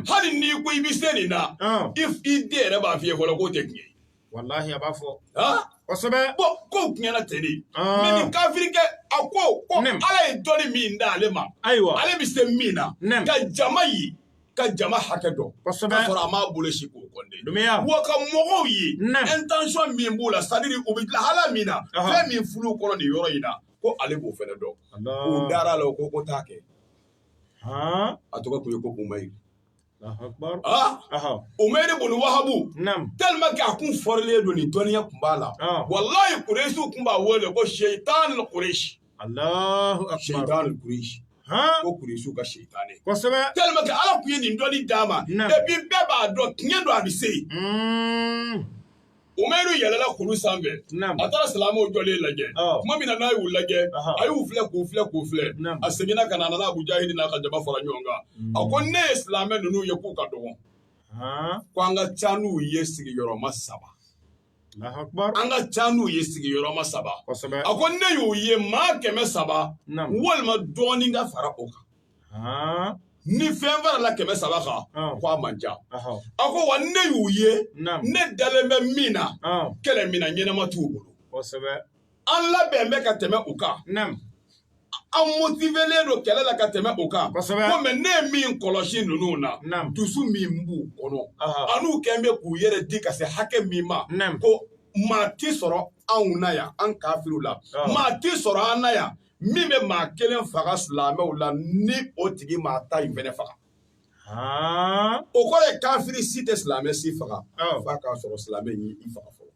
hali n'i ko i bɛ se nin na i den yɛrɛ b'a f'i ye fɔlɔ k'o tɛ tiɲɛ ye walahi a b'a fɔ kosɛbɛ bɔn kow tiɲɛna ten de mɛ nin kafirikɛ a ko ko ala ye dɔnni min di ale ma ayiwa ale bɛ se min na ka jama ye ka jama hakɛ dɔn kosɛbɛ k'a sɔrɔ a m'a bolo sin k'u kɔnte wa ka mɔgɔw ye intention min b'u la c'est à dire u bɛ lahala min na fɛn min furu kɔnɔ nin yɔrɔ in na ko ale b'o fana dɔn u dara a la ko o ka t'a kɛ a tɔgɔ tun ye ko Umayiru Umayiru bunu Wahabu talima kɛ a kun fɔrilen don nin dɔnniya tun b'a la walayi kuresiw tun b'a wele ko seyitanu kuresi seyitanu kuresi ko kuresiw ka seyitan ye kosɛbɛ talima kɛ ala tun ye nin dɔnni d'a ma epi bɛɛ b'a dɔn tiɲɛ don a bɛ se yen Umayiru yɛlɛla kulu sanfɛ a taara silamɛw jɔlen lajɛ tuma min na n'a y'u lajɛ a y'u filɛ k'u filɛ k'u filɛ a seginna ka na a nana Abu Jahili n'a ka jama fara ɲɔgɔn kan a ko ne ye silamɛ ninnu ye k'u ka dɔgɔn ko an ka ca n'u ye sigiyɔrɔma saba an ka ca n'u ye sigiyɔrɔma saba a ko ne y'u ye maa kɛmɛ saba walima dɔɔnin ka fara o kan ni fɛn farala kɛmɛ saba kan ko a man ca a ko wa ne y'u ye ne dalen bɛ min na kɛlɛminan ɲɛnama t'u bolo an labɛn bɛ ka tɛmɛ u kan an motivelen don kɛlɛ la ka tɛmɛ u kan ko mɛ ne ye min kɔlɔsi ninnu na dusu min b'u kɔnɔ an'u kɛn bɛ k'u yɛrɛ di ka se hakɛ min ma ko maa tɛ sɔrɔ anw na yan an kafiriw la maa tɛ sɔrɔ an na yan min bɛ maa kelen faga silamɛw la ni o tigi m'a ta in fana faga o kɔrɔ ye kafiri si tɛ silamɛ si faga f'a k'a sɔrɔ silamɛ y'i faga fɔlɔ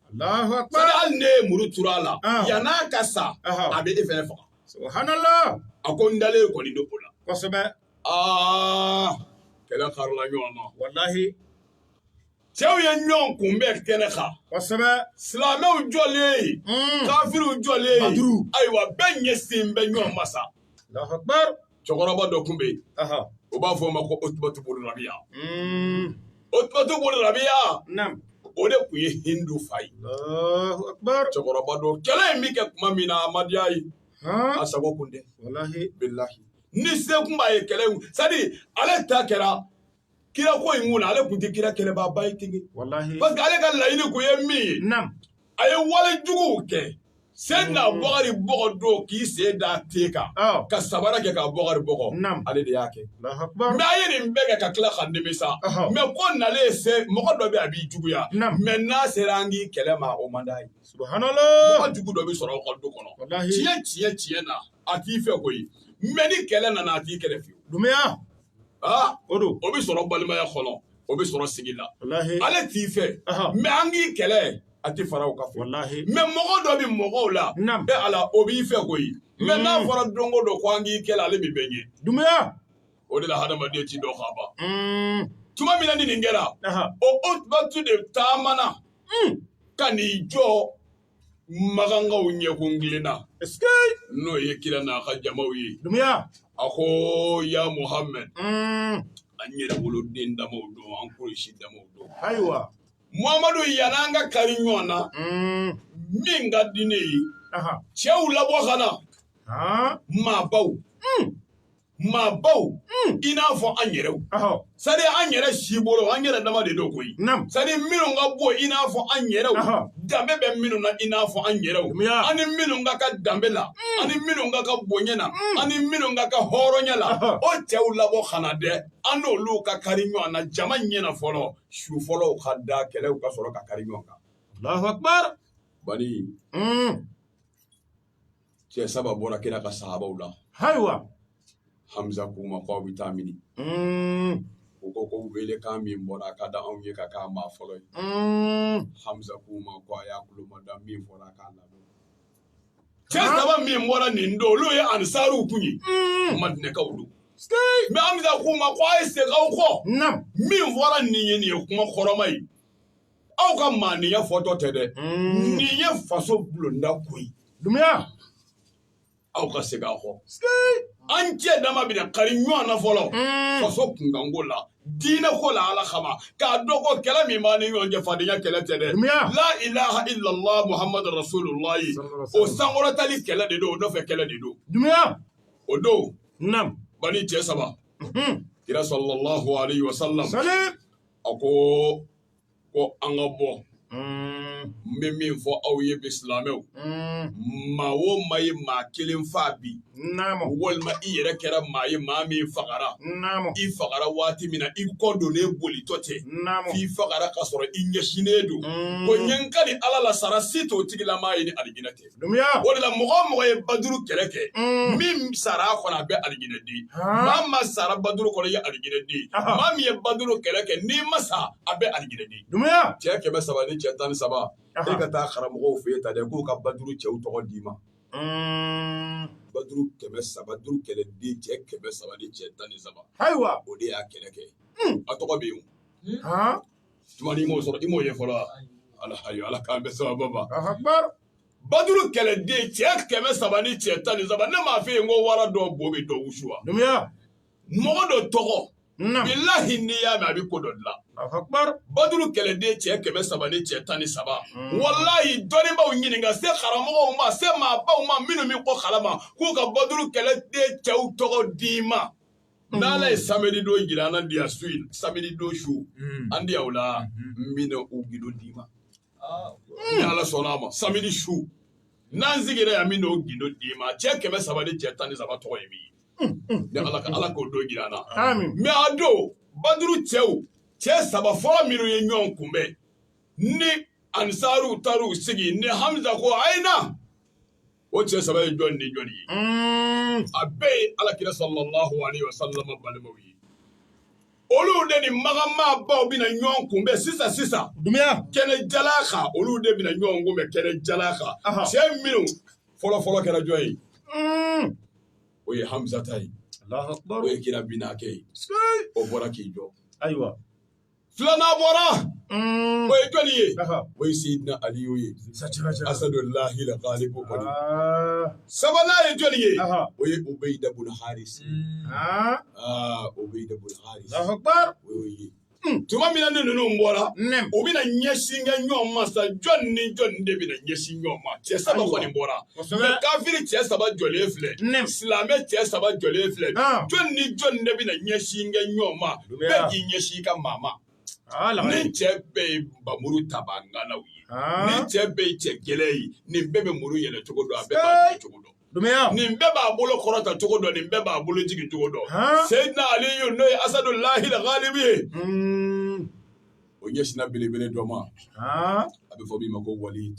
sani hali n'e ye muru turu a la yan'a ka sa a bɛ e fana faga subhanalahi a ko n dalen kɔni don o la kosɛbɛ aa kɛlɛ karila ɲɔgɔn na walahi cɛw ye ɲɔgɔn kunbɛn kɛnɛ kan kosɛbɛ silamɛw jɔlen ye mm. kafiriw jɔlen ye ayiwa bɛɛ ɲɛsin bɛ ɲɔgɔn ma sa cɛkɔrɔba dɔ tun bɛ yen o b'a fɔ o ma ko Utubatu bunu Rabiya mm. Utubatu bunu Rabiya o de tun ye Hindu fa ye cɛkɔrɔba dɔ kɛlɛ in bɛ kɛ tuma min na a ma diya a ye a sago kun tɛ ni se kun b'a ye kɛlɛ in sadi ale ta kɛra kira ko in kun na ale tun tɛ kira kɛlɛbaaba ye ten walahi parce que ale ka laɲini kun ye min ye naam a ye wale juguw kɛ sen na mm. Bukari bugɔ don k'i sen d'a ten kan oh. ka sabara kɛ ka Bukari bugɔ ale de y'a kɛ mɛ a ye nin bɛɛ kɛ ka tila ka nimisa mɛ ko n'ale ye se mɔgɔ dɔ bɛ a b'i juguya mɛ n'a sera an k'i kɛlɛ ma o man d'a ye mɔgɔ jugu dɔ bɛ sɔrɔ aw ka du kɔnɔ tiɲɛ tiɲɛ tiɲɛ na a t'i fɛ koyi mɛ ni kɛlɛ nana a t'i kɛlɛ fiyewu Aa o don o bɛ sɔrɔ balimaya kɔnɔ o bɛ sɔrɔ sigi la ale t'i fɛ mɛ an k'i kɛlɛ a tɛ fara u ka fɔ la mɛ mɔgɔ dɔ bɛ mɔgɔw la e Ala o b'i fɛ koyi mɛ n'a fɔra dɔnko dɔ ko an k'i kɛlɛ ale bɛ bɛɛ ɲɛ duniya o de la hadamaden tɛ dɔn k'a ban tuma min na ni nin kɛra Utubatu de taamana ka n'i jɔ makankaw ɲɛkun kilenna n'o ye kira n'a ka jamaw ye a ko ya muhamɛd mm. an yɛrɛ woloden damaw don an kɔlɔsi damaw don ayiwa muhamadu yani an ka kari ɲɔgɔn na mm. min ka di ne ye cɛw labɔ ka na maabaw mm. maabaw hmm. i n'a fɔ an yɛrɛw sani an yɛrɛ si bolo an yɛrɛ dama de don koyi sani minnu ka bɔ i n'a fɔ an yɛrɛw danbe bɛ minnu na i n'a fɔ an yɛrɛw an ni minnu ka kan danbe la hmm. an ni minnu ka kan bonya na hmm. an ni minnu ka kan hɔrɔnya la o cɛw labɔ ka na dɛ an n'olu ka kari ɲɔgɔn na jama ɲɛ na fɔlɔ su fɔlɔw ka da kɛlɛw ka sɔrɔ ka kari ɲɔgɔn kan bani cɛ saba bɔra kira ka sahabaw la hayiwa hamza k'u ma k'aw bɛ taa mini mm. u ko ko welekan min bɔra a ka di anw ye ka k'a maa fɔlɔ ye mm. hamza k'u ma ko a y'a kulo mada min fɔra a k'a lamɛn cɛ saba min bɔra nin don olu ye ansariw kun ye mm. madinɛkaw don mɛ hamza k'u ma ko a ye segin aw kɔ min fɔra nin ye nin ye kuma kɔrɔma ye aw ka maaniya fɔtɔ tɛ dɛ nin ye faso bulonda ko ye dumiya aw ka segin aw kɔ an cɛ dama bɛna kari ɲɔgɔn na fɔlɔ faso kunkanko la diinɛ ko la ala kama k'a dɔn ko kɛlɛ min b'an ni ɲɔgɔn cɛ fadenya kɛlɛ tɛ dɛ la ilaha illallah muhammadu rasulullahi o sankɔrɔtali kɛlɛ de don o nɔfɛ kɛlɛ de don dumiya o don nam bani cɛ saba kira sallallahu alaihi wasallam a ko ko an ka bɔ n bɛ min fɔ aw ye bi silamɛw maa o maa ye maa kelen faa bi walima i yɛrɛ kɛra maa ye maa min fagara i fagara waati min na i kɔ donlen bolitɔ tɛ i fagara ka sɔrɔ i ɲɛsinnen don ko n ye n kali ala la sara si t'o tigilamaa ye ni alijinɛ tɛ o de mɔgɔ mɔgɔ ye baduru kɛlɛ kɛ min sara kɔnɔ a bɛɛ alijinɛden maa maa sara baduru kɔnɔ ye alijinɛden min ye baduru kɛlɛ kɛ n'i ma sa a bɛɛ alijinɛden cɛ kɛmɛ saba ni cɛ tan ni saba e ka taa karamɔgɔ fɛ ta k'u ka baduru cɛw tɔgɔ d'i ma baduru kɛmɛ saba kɛlɛden cɛ kɛmɛ saba ni cɛ tan ni saba ayiwa o de y'a kɛlɛ kɛ a tɔgɔ bɛ yen tuma i m'o sɔrɔ i m'o ye fɔlɔ wa ala ayi ala k'an bɛn sababu ma baduru kɛlɛden cɛ kɛmɛ saba ni cɛ tan ni saba ne m'a f'i ye ko wara dɔ bo bɛ dɔ wusu wa mɔgɔ dɔ tɔgɔ bilahi n'i y'a mɛn a bɛ ko dɔ dilan baduru kɛlɛden cɛ kɛmɛ saba ni cɛ tan ni saba hmm. walayi dɔnnibaaw ɲininka se karamɔgɔw ma se maabaw ma minnu bɛ ko kalama k'u ka baduru kɛlɛden cɛw tɔgɔ d'i ma n'ala ye samedi don jira an na diya su in samedi don su an diya o la n bɛna u gido d'i ma ni ala sɔnna a ma samedi su n'an sigira yan n bɛna o gido d'i ma cɛ kɛmɛ saba ni cɛ tan ni saba tɔgɔ ye min ye ni ala ka ala k'o don jira an na mɛ a don baduru cɛw cɛ saba fɔlɔ minnu ye ɲɔgɔn kunbɛn ni anisaariw taar'u sigi ni hamza ko a ye na o cɛ saba ye jɔn ni jɔn ye a bɛɛ ye ala kira sallallahu alaihi wasallam balimaw ye olu de ni makan maabaw bɛna ɲɔgɔn kunbɛn sisan sisan dumiya kɛnɛ jalan kan olu de bɛna ɲɔgɔn kunbɛn kɛnɛ jalan kan cɛ minnu fɔlɔ fɔlɔ kɛra jɔn ye o ye hamzata ye o ye kira binakɛ ye o bɔra k'i jɔ ayiwa filanan bɔra mm. o ye jɔni ye o ye seyidina aliyu ye asadulahi la galibu kɔni ah. sabanan ye jɔni ye o ye ubeyida bun harisi mm. ah. ah, ubeyida bun harisi o y'o ye hmm. tuma min na ni ninnu bɔra u bɛna ɲɛsin kɛ ɲɔgɔn ma sa jɔn ni jɔn de bɛna ɲɛsin ɲɔgɔn ma cɛ saba kɔni bɔra kosɛbɛ kafiri cɛ saba jɔlen filɛ Nɛm. silamɛ cɛ saba jɔlen filɛ Ah. jɔni ni jɔni de bɛna ɲɛsin kɛ ɲɔgɔn ma Juguya. bɛɛ k'i ɲɛsin i ka maa ma aa lamɛn nin cɛ bɛɛ ye panmuru tabaa ŋanaw ye Ah. nin cɛ bɛɛ ye cɛ gɛlɛn ye nin bɛɛ bɛ muru yɛlɛ cogo dɔn a bɛɛ b'a kɛ cogo dɔn dumeya nin bɛɛ b'a bolo kɔrɔta cogo dɔn nin bɛɛ b'a bolo jigin cogo dɔn Ah. seyidina aliyu n'o ye asadulahi la galibi ye Mm. o ɲɛsinna belebele dɔ ma aa a bɛ fɔ min ma ko walid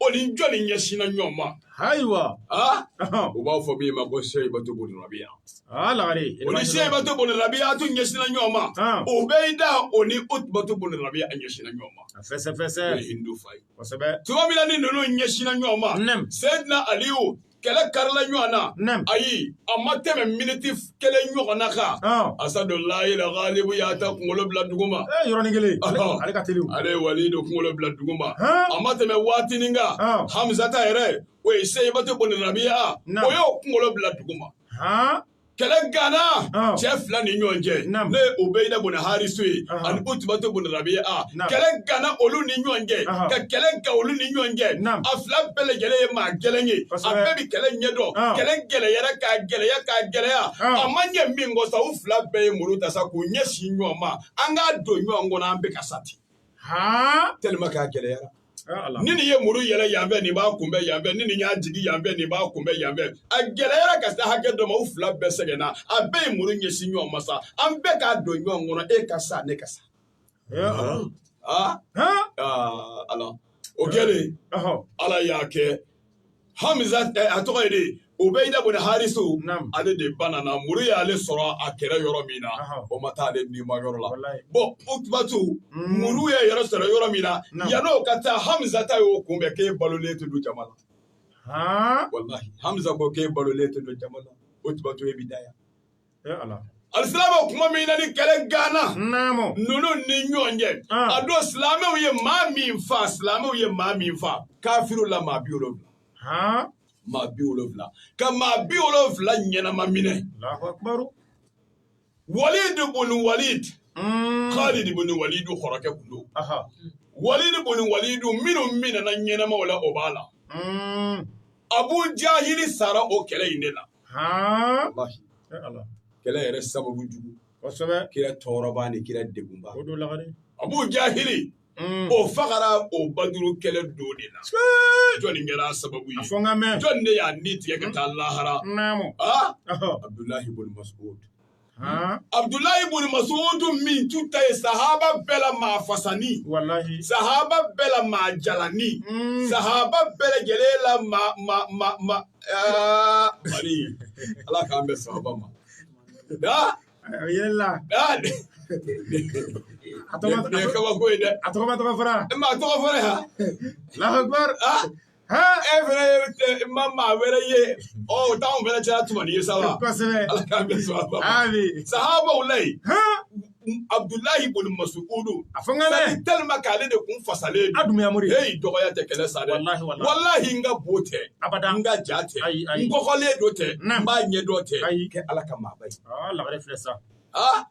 o ni jɔni ɲɛsinna ɲɔgɔn ma ayiwa u b'a fɔ min ma ko seyibatu bunu rabiya o ni seyibatu bunu rabiya a tun ɲɛsinna ɲɔgɔn ma ubeyida o ni utubatu bunu rabiya a ɲɛsinna ɲɔgɔn ma a fɛsɛfɛsɛ o ye hindu fa ye kosɛbɛ tuma min na ni ninnu ɲɛsinna ɲɔgɔn ma seyidina aliyu kɛlɛ karila ɲɔgɔn na Naam. ayi a ma tɛmɛ miniti kelen ɲɔgɔnna kan Ɔn. asadulahi la galibu y'a ta kunkolo bila duguma Eh, yɔrɔnin kelen ale Ɔhɔn. ale ka teli o. ale ye walidu kunkolo bila duguma Hɛn. a ma tɛmɛ waatinin kan Ɔn. hamizata yɛrɛ o ye seyibatu bunu rabiya Naam. o y'o kunkolo bila duguma Haan. kɛlɛ ganna cɛ fila ni ɲɔgɔn cɛ ni ubeyida bunu harisu ye ani utubatu bunu rabiya kɛlɛ ganna olu ni ɲɔgɔn cɛ ka kɛlɛ gan olu ni ɲɔgɔn cɛ a fila bɛɛ lajɛlen ye maa gɛlɛn ye a bɛɛ bɛ kɛlɛ ɲɛdɔn kɛlɛ gɛlɛyara k'a gɛlɛya k'a gɛlɛya a ma ɲɛ min kɔ sa u fila bɛɛ ye muru ta sa k'u ɲɛsin ɲɔgɔn ma an k'a don ɲɔgɔn kɔnɔ an bɛɛ ka sa ten tɛlima k'a gɛlɛyara ni nin ye muru yɛlɛ yanfɛ nin b'a kunbɛn yanfɛ ni nin y'a jigin yanfɛ nin b'a kunbɛn yanfɛ a gɛlɛyara ka se hakɛ dɔ ma u fila bɛɛ sɛgɛnna a bɛɛ ye muru ɲɛsin ɲɔgɔn ma sa an bɛɛ k'a don ɲɔgɔn kɔnɔ e ka sa ne ka sa ala o kɛlen ala y'a kɛ hami a tɔgɔ ye di ubayida bun harisu ale de banna muru y'ale sɔrɔ a kɛra yɔrɔ min na o ma taa ale ni ma yɔrɔ la bon utubatu muru ye yɛrɛ sɔrɔ yɔrɔ min na yan n'o ka taa hamza ta y'o kunbɛ k'e balolen tɛ don jama la walahi hamza ko k'e balolen tɛ don jama la utubatu e bɛ da yan alisilamɛw kuma min na ni kɛlɛ ganna ninnu ni ɲɔgɔn cɛ ah. a don silamɛw ye maa min fa silamɛw ye maa min fa kafiru la maa bi wolonwula maa bi wolonwula ka maa bi wolonwula ɲɛnama minɛ walid bun walid mm. khalid bun walid kɔrɔkɛ kun don walid bun walid minnu minɛna ɲɛnamaw la o b'a la mm. abu jahili sara o kɛlɛ in de la kɛlɛ yɛrɛ sababu jugu kira tɔɔrɔbaa ni kira degunbaa abu jahili Mm. o fagara o baduru kɛlɛ don de la jɔnni kɛra sababu ye jɔnni de y'a ni tigɛ ka taa lahara abudulahi bun masud abdulayi buni masudu min tun ta ye sahaba bɛɛ la maa fasani sahaba bɛɛ la maa jalani hmm. sahaba bɛɛ lajɛlen la ma ma ma ma eh, mari ala k'an bɛ sahaba ma yɛlɛla a tɔgɔ tɔgɔ fara a tɔgɔ fara allahu akubar e fana ye ma maa wɛrɛ ye ɔ o t'anw fana cɛla tuma ni ye sa wa kosɛbɛ ala k'an bɛn sɔrɔ a ma ami sahabaw la yen abudulayi bun masudu a fɔ n ka dɛ sani tɛlima k'ale de kun fasalen a dunya mori heyi dɔgɔya tɛ kɛlɛ sa dɛ Walahi, walahi. walahi n ka bon tɛ abada n ka jan tɛ Ayi, ayi. n kɔgɔlen don tɛ Naam. n b'a ɲɛ dɔn tɛ Ayi. tɛ ala ka maaba ye aa lagare filɛ sa ah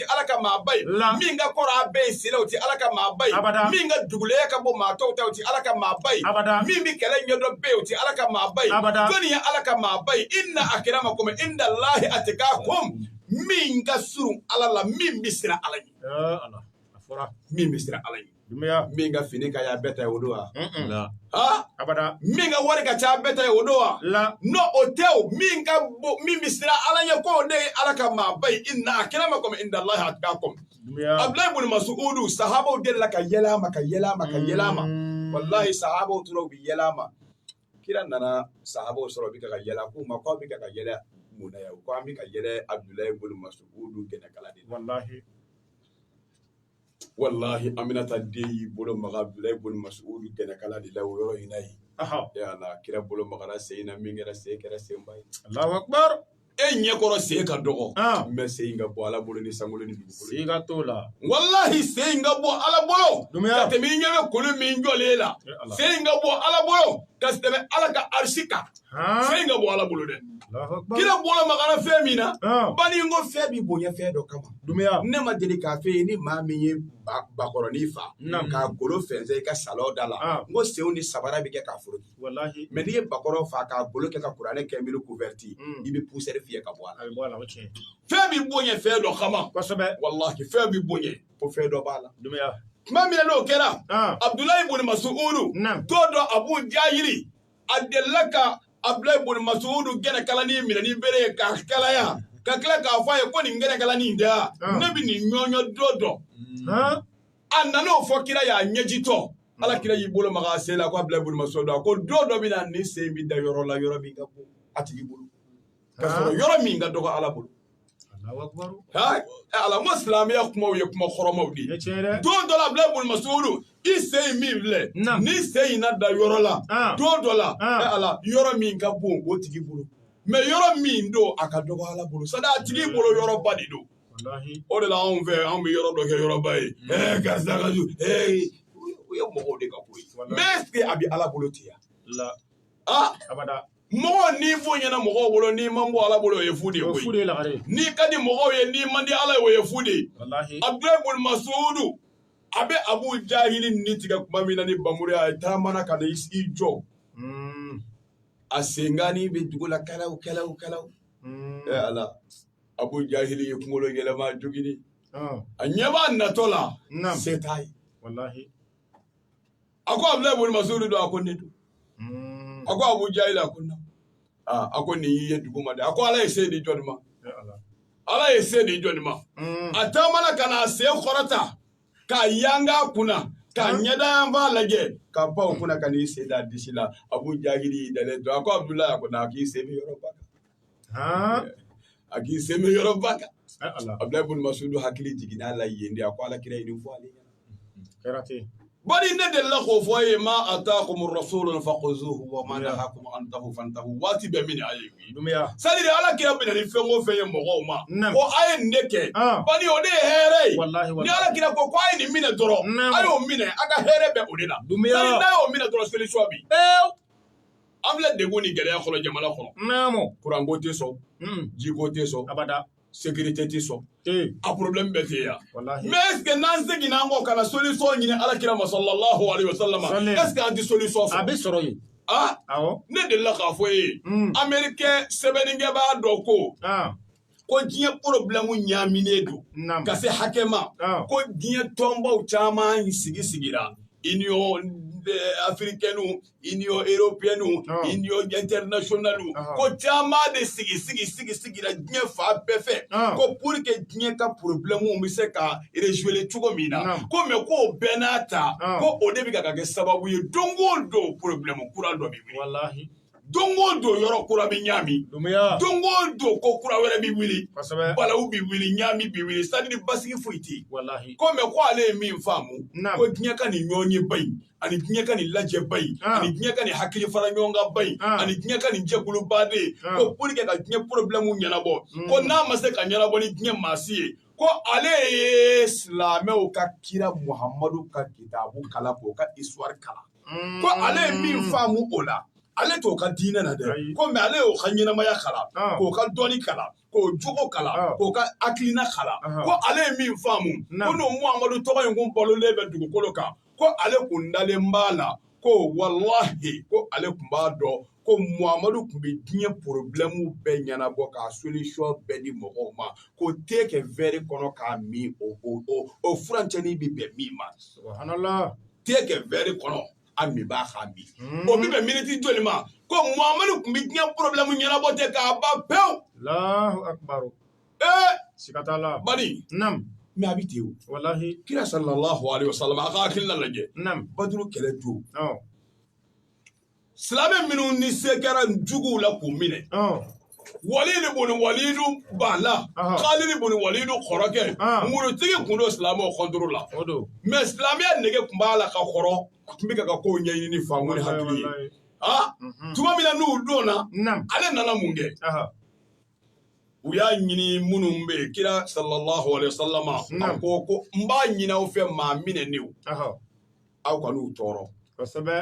tɛ ala ka maaba ye min ka kɔrɔ a bɛɛ ye si la o tɛ ala ka maaba ye min ka dugulenya ka bon maa tɔw ta o tɛ ala ka maaba ye min bɛ kɛlɛ ɲɛdɔn bɛɛ ye o tɛ ala ka maaba ye jɔnni ye ala ka maaba ye inna akramakum inda llahi atqakum min ka surun ala la min bɛ siran ala ɲɛ min bɛ siran ala ɲɛ min ka fini ka bɛɛ ta o don wa abada min ka wari ka ca bɛɛ ta o don wa non o tɛ o min ka min bɛ siran ala ɲɛ k'o de ye ala ka maaba ye inna akramakum inda llahi atqakum abudulayi bun masudu sahabaw delila ka yɛlɛ a ma ka yɛlɛ a ma ka yɛlɛ a ma mm. walahi sahabaw tora u bɛ yɛlɛ a ma kira nana sahabaw sɔrɔ u bɛ ka ka yɛlɛ a k'u ma k'aw bɛ ka ka yɛlɛ mun na yan ko an bɛ ka yɛlɛ abudulayi bun masudu gɛnɛkala de la walahi aminata den y'i bolo maga abdulayi boni masudu gɛnɛkala de la o yɔrɔ in ye kira bolo maga sen na min kɛra sen kɛra senba ye e ɲɛkɔrɔ sen ka dɔgɔ nka sen ka bon ala bolo ni sankolo la walahi sen ka bon ala bolo ka tɛmɛ i ɲɛ bɛ kulu min jɔlen la sen ka bon ala bolo ka tɛmɛ ala ka arisi kan fɛn ka bon ala bolo dɛ kira bolo magara fɛn min na bani n ko fɛn b'i bonya fɛn dɔ kama ne ma deli k'a f'i ye ni maa min ye bakɔrɔnin fa k'a golo fɛnsɛ i ka salɔn da la n ko senw ni sabara bɛ kɛ k'a foroki mɛ n'i ye bakɔrɔ fa k'a golo kɛ ka kuranɛ kɛ miiri kuvɛriti i bɛ pusɛri fiyɛ ka bɔ a la fɛn b'i bonya fɛn dɔ kama kosɛbɛ walahi fɛn b'i bonya ko fɛn dɔ b'a la tuma min n'o kɛra abudulayi boni masudu ko don abu jahili a delila ka abdulayi boni masudu gɛnɛkalani minɛ ni bere ye k'a kalaya ka tila k'a fɔ a ye ko nin gɛnɛkalani in dɛ ne bɛ nin ɲɔɲɔ don dɔ a nana o fɔ kira y'a ɲɛjitɔ ala kira y'i bolo maga a sen la ko abdulayi boni masudu a ko don dɔ bɛ na nin sen bɛ da yɔrɔ la yɔrɔ min ka bon a tigi bolo ka sɔrɔ yɔrɔ min ka dɔgɔ ala bolo alamu silamɛya kumaw ye kuma kɔrɔmaw de ye don dɔ la abdulayi boni masudu i sen min filɛ nin sen in na da yɔrɔ la ah. don dɔ la ah. yɔrɔ min ka bon o tigi bolo mɛ yɔrɔ min don a ka dɔgɔ ala bolo sani a tigi bolo yɔrɔba de don o de la anw fɛ anw bɛ yɔrɔ dɔ kɛ yɔrɔba ye mm. ɛɛ karisa ka ju ee o ye mɔgɔw de ka ko ye mɛ ɛseke a bɛ ala bolo ten yan aa abada mɔgɔ n'i bonyana mɔgɔw bolo n'i man bon ala bolo o ye fu de ye koyi n'i ka di mɔgɔw ye n'i man di ala ye o ye fu de ye abudulayi boni masudu a bɛ abu jahili ni tigɛ tuma min na ni bamuru ye a taamana ka na i jɔ a senkannin bɛ dugu la kalaw kalaw kalaw ɛ ala abu jahili y'i kunkolo yɛlɛma jogini a ɲɛ b'a natɔ la se t'a ye a ko abudulayi ibunu mas'udu don a ko ne don hmm. a ko abu jahil a ko na a ko ne y'i ye duguma dɛ a ko ala ye se di jɔni ma ala ye se di jɔni ma hmm. a taamana ka na a sen kɔrɔta k'a yanga kunna ka ɲɛdayan b'a lajɛ ka pan o kunna ka n'i sen da disi la abu jahili y'i dalen to a ko abudulayi a ko na k'i sen bɛ yɔrɔba kan a k'i sen bɛ yɔrɔba kan abdulayi boni masudu hakili jiginna a la yen de a ko ala kira nin fɔ ale bari ne delila k'o fɔ a ye ma atakumu rasulu fakuzuhu wa ma nahakumu anhu fantahu waati bɛ min a ye sa ala kira bɛ na ni fɛn o fɛn ye mɔgɔw ma ko a ye nin de kɛ bari o de ye hɛrɛ ye ni ala kira ko ko a ye nin minɛ dɔrɔn a y'o minɛ a ka hɛrɛ bɛɛ o de la y'o minɛ dɔrɔn seli sɔ bi An filɛ dɛgun ni gɛlɛya kɔnɔ jamana kɔnɔ kuranko tɛ sɔn jiko tɛ sɔn abada sécurité tɛ sɔn a porobilɛmu bɛɛ bɛ yan mɛ est-ce que n'an seginna an kɔ ka na solisɔn ɲini ala kira ma sallallahu alaihi wasallam est-ce que an tɛ solisɔn bɛɛ sɔrɔ yen ne delila k'a fɔ aw ye ameriken sɛbɛnnikɛlaba dɔ ko ko diɲɛ porobilɛmu ɲaaminen don ka se hakɛ ma ko diɲɛ tɔnbaw caman sigi sigira union africaine union européenne union internationale ko caman de sigi sigi sigi sigira diɲɛ fan bɛɛ fɛ ko pour que diɲɛ ka porobilɛmu bɛ se ka résolu cogo min na ko mais k'o bɛɛ n'a ta ko o de bɛ ka kɛ sababu ye don o don porobilɛmu kura dɔ bɛ wuli. don o don yɔrɔ kura bɛ ɲaami don o don ko kura wɛrɛ bɛ wuli balawu bɛ wuli ɲaami bɛ wuli c'est-à-dire basigi foyi tɛ yen ko mɛ ko ale ye min faamu ko diɲɛ ka nin ɲɔgɔnyeba in ani diɲɛ ka nin lajɛba in ah. ani diɲɛ ka nin hakili fara ɲɔgɔn kan ba in ah. ani diɲɛ ka nin jɛkuluba in ah. ko pour que ka diɲɛ porobilɛmu ɲɛnabɔ hmm. ko n'a ma se ka ɲɛnabɔ ni diɲɛ maasi ye ko ale ye silamɛw ka kira muhamadu ka kitabu kalan k'o ka histoire kalan ko ale ye min faamu o la ale t'o ka diinɛ na dɛ Ayi. ko mɛ ale y'o ka ɲɛnamaya kalan Ah. k'o ka dɔnni kalan k'o jogo Ah. kalan k'o ka hakilina kalan Aha. ko ale ye min faamu Na. ko n'o muhamadu tɔgɔ in kun balolen bɛ dugukolo kan ko ale kun dalen b'a la ko walahi ko ale kun b'a dɔn ko muhamadu kun bɛ diɲɛ porobilɛmu bɛɛ ɲɛnabɔ k'a solisɔn bɛɛ di mɔgɔw ma ko te kɛ wɛri kɔnɔ k'a min o o o o furancɛni bɛ bɛn min ma Subhanallah. tee kɛ vɛri kɔnɔ a min b'a k'a min o bɛ bɛn miniti joli ma ko muhamadu kun bɛ diɲɛ porobilɛmu ɲɛnabɔ ten k'a ban pewu Allahu akbar. ee Siga t'a la. bani Nam. mɛ a bɛ ten o Walahi. kira sallallahu alaihi wasallam a ka hakilina lajɛ Nam. baduru kɛlɛ don Ɔ. silamɛ minnu ni se kɛra juguw la k'u minɛ walidi boni walidu b'a la kalidi boni walidu kɔrɔkɛ murutigi kun don silamɛw kɔntoro la mɛ silamɛya nege kun b'a la ka kɔrɔ tun bɛ ka ka kow ɲɛɲini faamu ni hakili ye mhm. tuma min na n'u donna ale nana mun kɛ u y'a ɲini minnu bɛ yen kira sallallahu alaihi wa sallama a ko ko n b'a ɲini aw fɛ maa minɛnenw aw kan'u tɔɔrɔ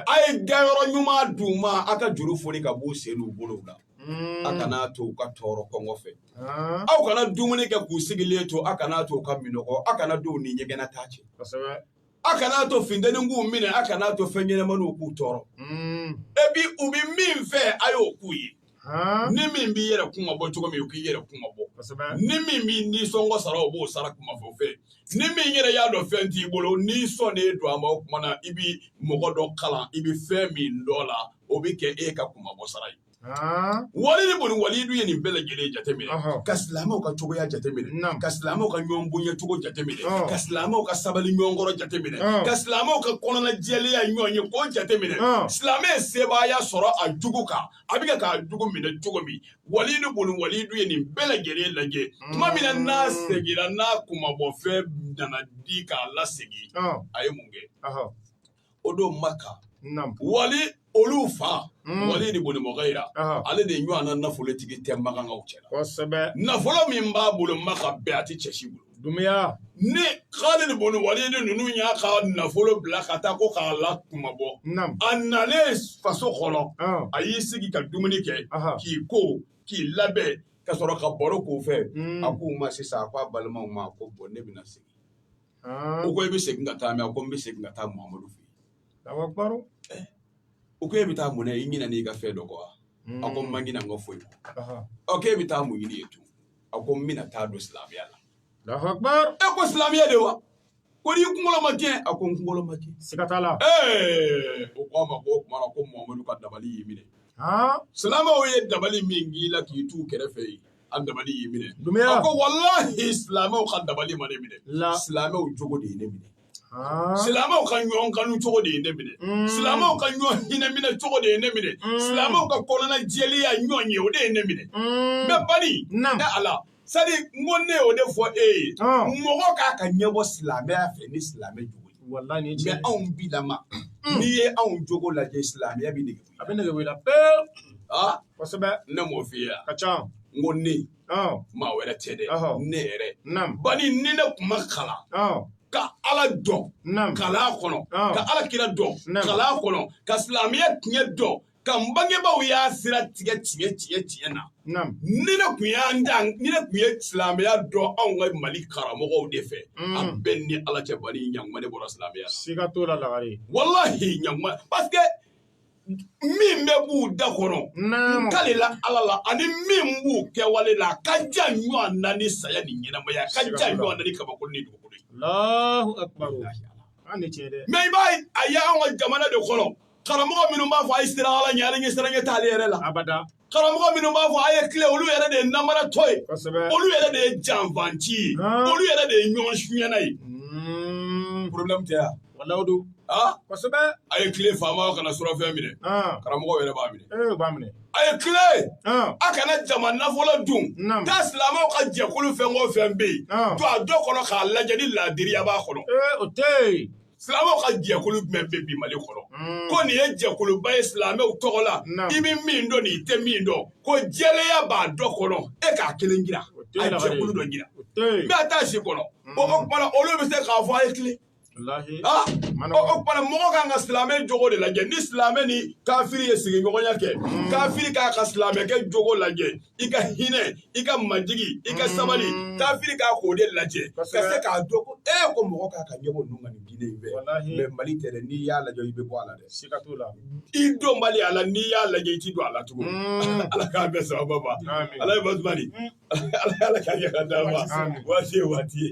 a ye dayɔrɔ ɲuman d'u ma aw ka juru foli ka b'u sen n'u bolow la a kana to u ka tɔɔrɔ kɔngɔ fɛ aw kana dumuni kɛ k'u sigilen to aw kana to u ka minnɔgɔ aw kana don u ni ɲɛgɛnnataa cɛ aw kana to finteni k'u minɛ aw kana to fɛn ɲɛnɛmaniw k'u tɔɔrɔ et puis u bɛ min fɛ a y'o k'u ye ni min b'i yɛrɛ kunmabɔ cogo min k'i yɛrɛ kunmabɔ ni min b'i nisɔngɔ sara o b'o sara kunmabɔ fɛ ni min yɛrɛ y'a dɔn fɛn t'i bolo ni sɔn de don a ma o tuma na i bɛ mɔgɔ dɔ kalan i bɛ fɛn min dɔn na o bɛ kɛ e ka kunmabɔ sara ye walidu bun walidu ye nin bɛɛ lajɛlen jateminɛ ka silamɛw ka cogoya jateminɛ ka silamɛw ka ɲɔgɔn bonya cogo jateminɛ ka silamɛw ka sabali ɲɔgɔn kɔrɔ jateminɛ ka silamɛw ka kɔnɔnajɛlenya ɲɔgɔn ye ko jateminɛ silamɛ sebaaya sɔrɔ a jugu kan a bɛ k'a jugu minɛ cogo min walidu bun walidu ye nin bɛɛ lajɛlen lajɛ tuma min na n'a seginna n'a kunmabɔfɛn nana di k'a lasegin a ye mun kɛ o don maka wali olu fa hmm. walidu bun mugira ale de ɲɔgɔn na nafolotigi tɛ makankaw cɛ la nafolo min b'a bolo maka bɛɛ a tɛ cɛ si bolo Dunya ne halidu bun walidu ninnu y'a ka nafolo bila ka taa ko k'a lakunmabɔ a nalen faso kɔnɔ a y'i sigi ka dumuni kɛ k'i ko k'i labɛn ka sɔrɔ ka baro k'u fɛ a k'u ma sisan a k'a balimaw ma ko bɔn ne bɛna segin u ko i bɛ segin ka taa min a ko n bɛ segin ka taa mamadu fɛ u ko e bɛ taa mun i ɲinan'i ka fɛn dɔ kɔ wa a ko n ma ɲina foyi kɔ e bɛ taa mun ɲini yen a ko n bɛna taa don silamɛya la e ko silamɛya de wa ko n'i kunkolo ma cɛn a ko n kunkolo ma cɛn siga t'a la ee u ko a ma ko o tuma na ko mamadu ka dabali y'i minɛ silamɛw ye dabali min k'i la k'i t'u kɛrɛfɛ yen a dabali y'i minɛ a ko walahi silamɛw ka dabali ma ne minɛ silamɛw jogo de ye ne minɛ silamɛw ka ɲɔgɔn kanu cogo de ye ne minɛ mm. silamɛw ka ɲɔgɔn hinɛ minɛ cogo de ye ne minɛ mm. silamɛw ka kɔnɔna jɛlenya ɲɔgɔn ye o de ye ne minɛ mm. mɛ bani ne ala sadi n ko ne y'o de fɔ e ye mɔgɔ ka kan ka ɲɛbɔ silamɛya fɛ ni silamɛ jogo ye mɛ anw bilama n'i ye anw jogo lajɛ silamɛya bɛ nege a bɛ nege bɔ i la pewu kosɛbɛ ne m'o f'i ye ka ca n ko ne maa wɛrɛ tɛ dɛ ne yɛrɛ bani ni ne tun ma kalan ka ala dɔn kalan kɔnɔ ka ala kira dɔn kalan kɔnɔ ka silamɛya tiɲɛ dɔn ka n bangebaaw y'a sira tigɛ tiɲɛ tiɲɛ tiɲɛ na ni ne tun y'an da ni ne tun ye silamɛya dɔn anw ka mali karamɔgɔw de fɛ mm. a bɛ n ni ala cɛ bani ɲakuma ne bɔra silamɛya la siga t'o la lagare walahi ɲakuma parce que min bɛ b'u da kɔnɔ n kalila ala la ani min b'u kɛwale la ka jan ɲɔgɔn na ni saya ni ɲɛnamaya ka jan ɲɔgɔn na ni kabakolo ni dugukolo ye mɛ i b'a ye a ye an ka jamana de kɔnɔ karamɔgɔ minnu b'a fɔ a ye siran ala ɲɛ ala ɲɛsiranɲɛ t'ale yɛrɛ la karamɔgɔ minnu b'a fɔ a ye tilen olu yɛrɛ de ye namaratɔ ye olu yɛrɛ de ye janfanci ye olu yɛrɛ de ye ɲɔgɔn sunyɛna ye problème tɛ yan walayi don kosɛbɛ a ye tilen faamaw kana surafɛn minɛ karamɔgɔ yɛrɛ b'a minɛ eh, b'a minɛ a ye tilen a kana jama nafolo dun taa silamɛw ka jɛkulu fɛn o fɛn bɛ yen to a dɔ kɔnɔ k'a lajɛ ni laadiriya b'a kɔnɔ eh, o tɛ yen Silamɛw ka jɛkulu jumɛn bɛ bi Mali kɔnɔ hmm. ko nin ye jɛkuluba ye silamɛw tɔgɔ la i bɛ min dɔn n'i tɛ min dɔn ko jɛlenya b'a dɔ kɔnɔ e k'a kelen jira a jɛkulu dɔ jira n bɛ taa si kɔnɔ hmm. o tuma na olu bɛ se k'a fɔ a ye tilen ah! o tuma na mɔgɔ kan ka silamɛ jogo de lajɛ ni silamɛ ni kafiri ye sigiɲɔgɔnya kɛ hmm. kafiri kan ka silamɛkɛ jogo lajɛ i ka hinɛ i ka majigi i ka sabali mm. kafiri kan k'o de lajɛ ka se k'a dɔn ko e ko mɔgɔ kan ka ɲɛbɔ ninnu ka nin diinɛ in fɛ mɛ mali tɛ dɛ n'i y'a lajɛ i bɛ bɔ a la dɛ siga t'o la i donbali a la n'i y'a lajɛ i ti don a la tugun mm. ala k'a bɛɛ sababa ma ala ye basumani mm. ala k'a ɲɛ ka d'a ma waati ye waati ye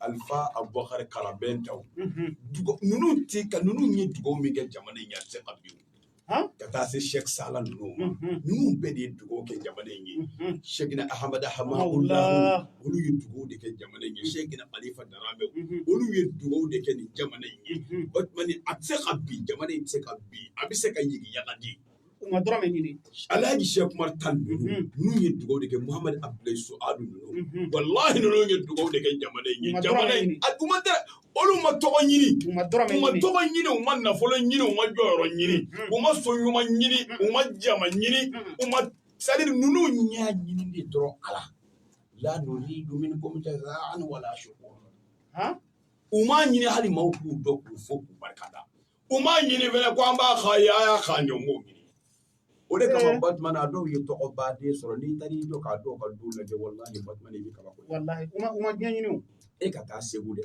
alifa abubakari karabɛntaw ninnu ti ka ninnu ye dugawu min kɛ jamana in ye a tɛ se ka bin ka taa se sɛk sala ninnu ma ninnu bɛɛ de ye dugawu kɛ jamana in ye sɛkina ahamada hamawula olu ye dugawu de kɛ jamana in ye sɛkina kalifa daramɛ olu ye dugawu de kɛ nin jamana in ye o tuma a tɛ se ka bin jamana in tɛ se ka bin a bɛ se ka yigiyaga de kuma dɔrɔn bɛ ɲini ala ye sɛku umar tal ninnu n'u ye dugawu de kɛ muhamadu abudulayi suwadu ninnu walahi ninnu ye dugawu de kɛ jamana in ye jamana in a kuma tɛ olu ma tɔgɔ ɲini u ma tɔgɔ ɲini u ma nafolo ɲini u ma jɔyɔrɔ ɲini u ma so ɲuman ɲini u ma jama ɲini u ma sadi ninnu y'a ɲini de dɔrɔn ala la nuri dumuni ko min tɛ an wala su u m'a ɲini hali maaw k'u dɔn k'u fo k'u barika da U m'a ɲini fana ko an b'a ka ye a y'a ka ɲɔn ko ɲini o de kama Batuma a dɔw ye tɔgɔba de sɔrɔ n'i taara i jɔ k'a dɔw ka du lajɛ walahi Batuma i bɛ kabako ye walahi u ma u ma diɲɛ ɲini o e ka taa Segu dɛ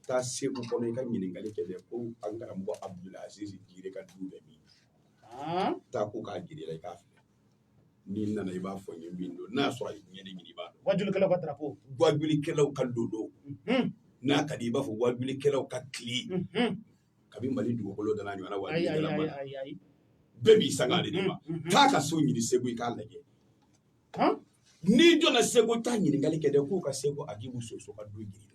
taa Segu kɔnɔ i ka ɲininkali kɛ dɛ ko an karamɔgɔ Abudulayi Azizi Jire ka du bɛ min taa k'u k'a jira i la i k'a filɛ n'i nana i b'a fɔ n ye min don n'a sɔrɔ a ye diɲɛ ɲini i b'a dɔn wajulikɛlaw ka drapeau wajulikɛlaw ka lolo n'a ka di i b'a fɔ wajulikɛlaw ka tile kabi mali dugukolo dana ɲɔgɔnna wajulikɛla ma bɛɛ b'i sanga de ma taa a ka so ɲini segu i k'a lajɛ n'i donna segu taa ɲininkali kɛ dɛ k'u ka segu a k'i muso so ka don ɲini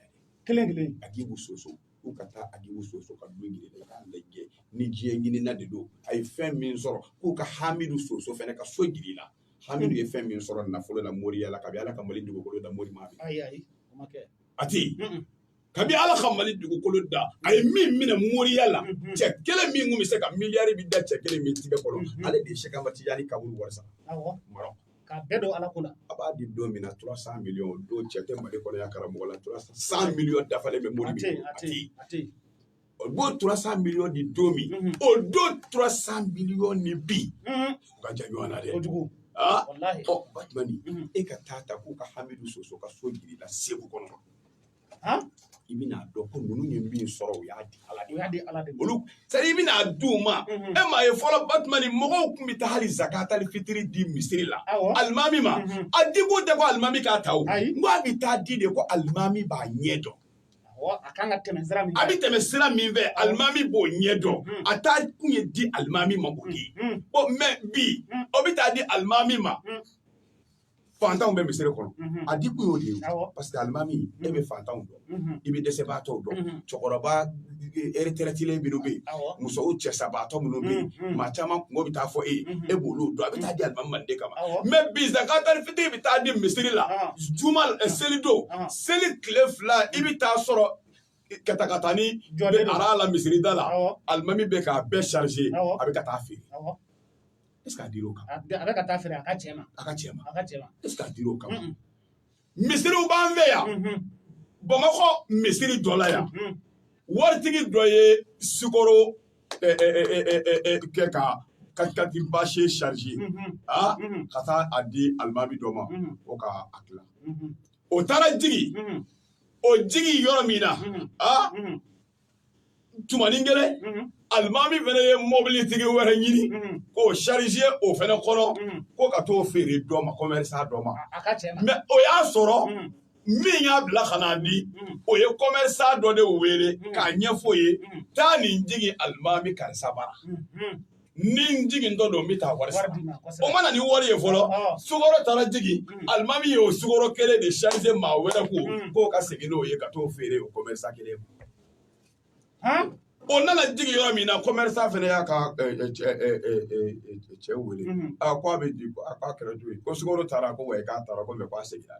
kelen kelen a k'i muso so u ka taa agibu soso ka du ɲini k'a lajɛ ni diɲɛ ɲinina de don a ye fɛn min sɔrɔ k'u ka hamidu soso fana ka so jira i la hamidu ye fɛn min sɔrɔ nafolo la moriya la kabi ala ka mali dugukolo da mori ma a ti kabi ala ka mali dugukolo da a ye min minɛ moriya la mhm. cɛ kelen min tun bɛ se ka miliyari bɛ da cɛ kelen min tigɛ kɔrɔ mhm. ale de ye sɛki amadu tijani kaburu wari sa K'a bɛɛ don ala kunna a b'a di don min na trois cents millions o don cɛ tɛ mali kɔnɔ yan karamɔgɔ la trois cents millions dafalen bɛ mori o don trois cents millions ni don min o don trois cents millions ni bi ka jan ɲɔgɔn na dɛ kojugu batumani e ka taa ta k'u ka hamidu soso ka so jira i la segu kɔnɔ i bɛna dɔn ko ninnu ye min sɔrɔ u y'a di ala de y'a di ala de olu sara bɛna di u ma e m'a ye fɔlɔ batumani mɔgɔw tun bɛ taa hali zakatali fitiri di misiri la alimami ma a di kun tɛ ko alimami k'a ta o nka a bɛ taa di de ko alimami b'a ɲɛ dɔn a kan ka tɛmɛ sira min fɛ a bɛ tɛmɛ sira min fɛ alimami b'o ɲɛ dɔn a taa kun ye di alimami ma o ye bɔn mɛ bi o bɛ taa di alimami ma fantanw bɛ misiri kɔnɔ a di kun y'o de ye parce que alimami e bɛ fantanw dɔn i bɛ dɛsɛbaatɔw dɔn cɛkɔrɔba ereterɛtilen minnu bɛ yen musow cɛsabaatɔ minnu bɛ yen maa caman kunko bɛ taa fɔ e ye e b'olu dɔn a bɛ taa di alimami ma o de kama mɛ bi zakatali fitiri bɛ taa di misiri la juma seli don seli tile fila i bɛ taa sɔrɔ katakatani jɔlen aran la misiri da la alimami bɛ k'a bɛɛ charger a bɛ ka taa feere est ce que a dir'o kan? A bɛ ka taa feere a ka cɛ ma. A ka cɛ ma. A ka cɛ ma. Est ce que a dir'o kan? Misiriw b'an fɛ yan. Bamakɔ misiri dɔ la yan. Waritigi dɔ ye sukoro kɛ ka katikati bâché charger ka taa a di alimami dɔ ma ko k'a tila. O taara jigin o jigin yɔrɔ min na a tumanin kelen alimami fana ye mɔbilitigi wɛrɛ ɲini k'o sarize o fana kɔnɔ ko ka t'o feere dɔ ma kɔmɛrisa dɔ ma mɛ o y'a sɔrɔ min y'a bila ka n'a di o ye kɔmɛrisa dɔ de wele k'a ɲɛfɔ o ye taa nin jigin alimami karisa bara nin jigintɔ don n bɛ taa wari sara o ma na ni wari ye fɔlɔ sukɔrɔ taara jigin alimami ye o sukɔrɔ kelen de charge maa wɛrɛ kun k'o ka segin n'o ye ka t'o feere o commerçant kelen ma o nana jigin yɔrɔ min na commerçant fana y'a ka cɛ wele a ko a bɛ di a k'a kɛra cogo di ko sukɔrɔ taara ko wa k'a taara ko mɛ k'a seginna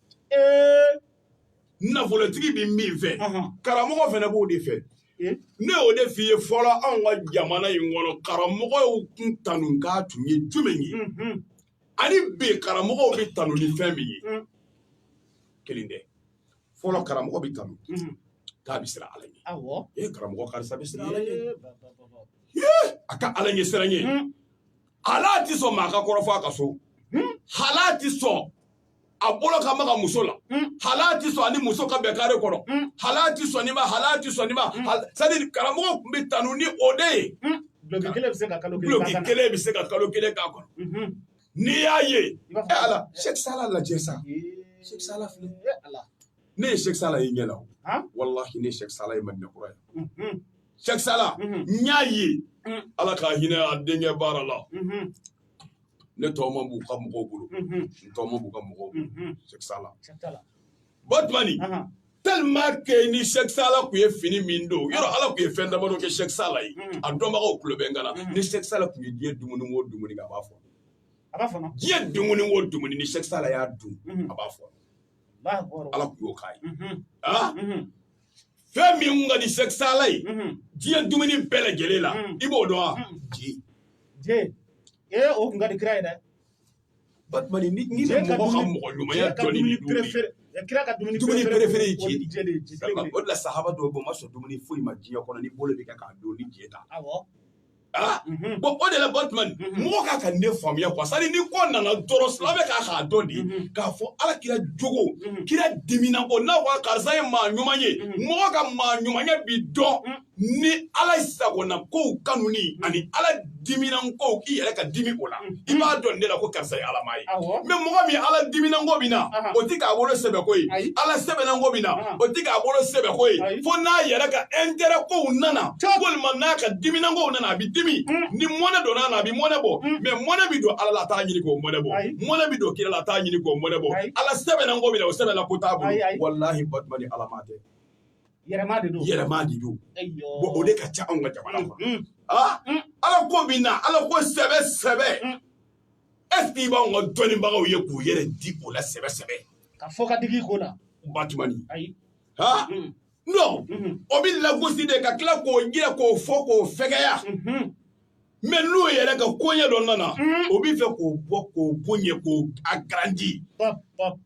nafolotigi bɛ min fɛ karamɔgɔ fana b'o de fɛ ne y'o de f'i ye fɔlɔ anw ka jamana in kɔnɔ karamɔgɔw tun tanukan tun ye jumɛn ye ani bi karamɔgɔw bɛ tanu ni fɛn min ye kelen tɛ fɔlɔ karamɔgɔ bɛ tanu k'a bɛ siran ala ɲɛ ee karamɔgɔ karisa bɛ siran ala ɲɛ a ka ala ɲɛ siran ɲɛ hal'a tɛ sɔn maa ka kɔrɔfɔ a ka so hal'a tɛ sɔn a bolo ka maga muso la mm. hal'a ti sɔn ani muso ka bɛn kare kɔnɔ mm. hal'a ti sɔn nin ma hal'a ti sɔn nin ma mm. c'est-à-dire karamɔgɔ tun bɛ tanu ni o de ye duloki kelen bɛ se ka kalo kelen duloki kelen bɛ se ka kalo kelen k'a kan na mm-hmm. n'i y'a ye ɛ ala sɛki sala lajɛ sa sɛki sala filɛ ne ye sɛki sala ye ɲɛ la o walahi ne ye sɛki sala ye madina kura yen mm-hmm. sɛki sala mm-hmm. n y'a ye ala ka hinɛ a denkɛ baara la ne tɔw ma b'u ka mɔgɔw bolo n tɔw ma b'u ka mɔgɔw bolo Sɛki Sala Batumani tellement que ni Sɛki Sala tun ye fini min don yɔrɔ Ala tun ye fɛn damadɔ kɛ Sɛki Sala ye a dɔnbagaw tulo bɛ n kan na ni Sɛki Sala tun ye diɲɛ dumuni o dumuni kɛ a b'a fɔ a b'a fɔnɔ diɲɛ dumuni o dumuni ni Sɛki Sala y'a dun a b'a fɔnɔ Ala tun y'o k'a ye fɛn min ka di sɛki sala ye diɲɛ dumuni bɛɛ lajɛlen la i b'o dɔn wa je je ee o kun ka di kira ye dɛ batumani ni ni mɔgɔ ka mɔgɔ ɲumanya dɔnni ni dumuni kira ka dumuni dumuni perefere ye je de o de la sahaba dɔ b'o ma sɔn dumuni foyi ma diɲɛ kɔnɔ ni bolo bɛ kɛ k'a dun ni je tɛ awɔ Ah, mhm. bon o de la batumani mhm. mɔgɔ ka kan ka ne faamuya quoi c'est-à-dire ni ko nana dɔrɔn silamɛ ka kan k'a dɔn dɛ mhm. k'a fɔ ala kira jogo kira dimina o na wa karisa ye maa ɲuman ye mɔgɔ ka maa ɲumanya bi dɔn ni ala sagonakow kanuni ani ala diminankow k'i yɛrɛ ka dimi o la i b'a don ne la ko karisa ye alamaa ye mɛ mɔgɔ min ala diminanko bɛ na o tɛ k'a bolo sɛbɛ ko ye ala sɛbɛnanko bɛ na o tɛ k'a bolo sɛbɛ ko ye fo n'a yɛrɛ ka ɛntɛrɛkow nana walima n'a ka diminankow nana a bɛ dimi ni mɔnɛ donn'a na a bɛ mɔnɛ bɔ mɛ mɔnɛ bɛ don ala la a t'a ɲini k'o mɔnɛ bɔ mɔnɛ bɛ don kira la a t'a ɲini k'o mɔnɛ bɔ ala sɛbɛnanko bɛ na o sɛbɛnanko t'a bolo walahi batumani alamaa tɛ Yɛrɛmaa de don yɛrɛmaa de don bon o de ka ca anw ka jamana kɔnɔ aa ala ko bi na ala ko sɛbɛ sɛbɛ est-ce que i b'anw ka dɔnnibagaw ye k'u yɛrɛ di o la sɛbɛ sɛbɛ k'a fɔ ka digi ko la batumani ayi ha non o bɛ lagosi de ka tila k'o jira k'o fɔ k'o fɛgɛya mɛ n'o yɛrɛ ka koɲɛ dɔ nana mm. o bi fɛ k'o bɔ k'o boɲɛ k'o agrandi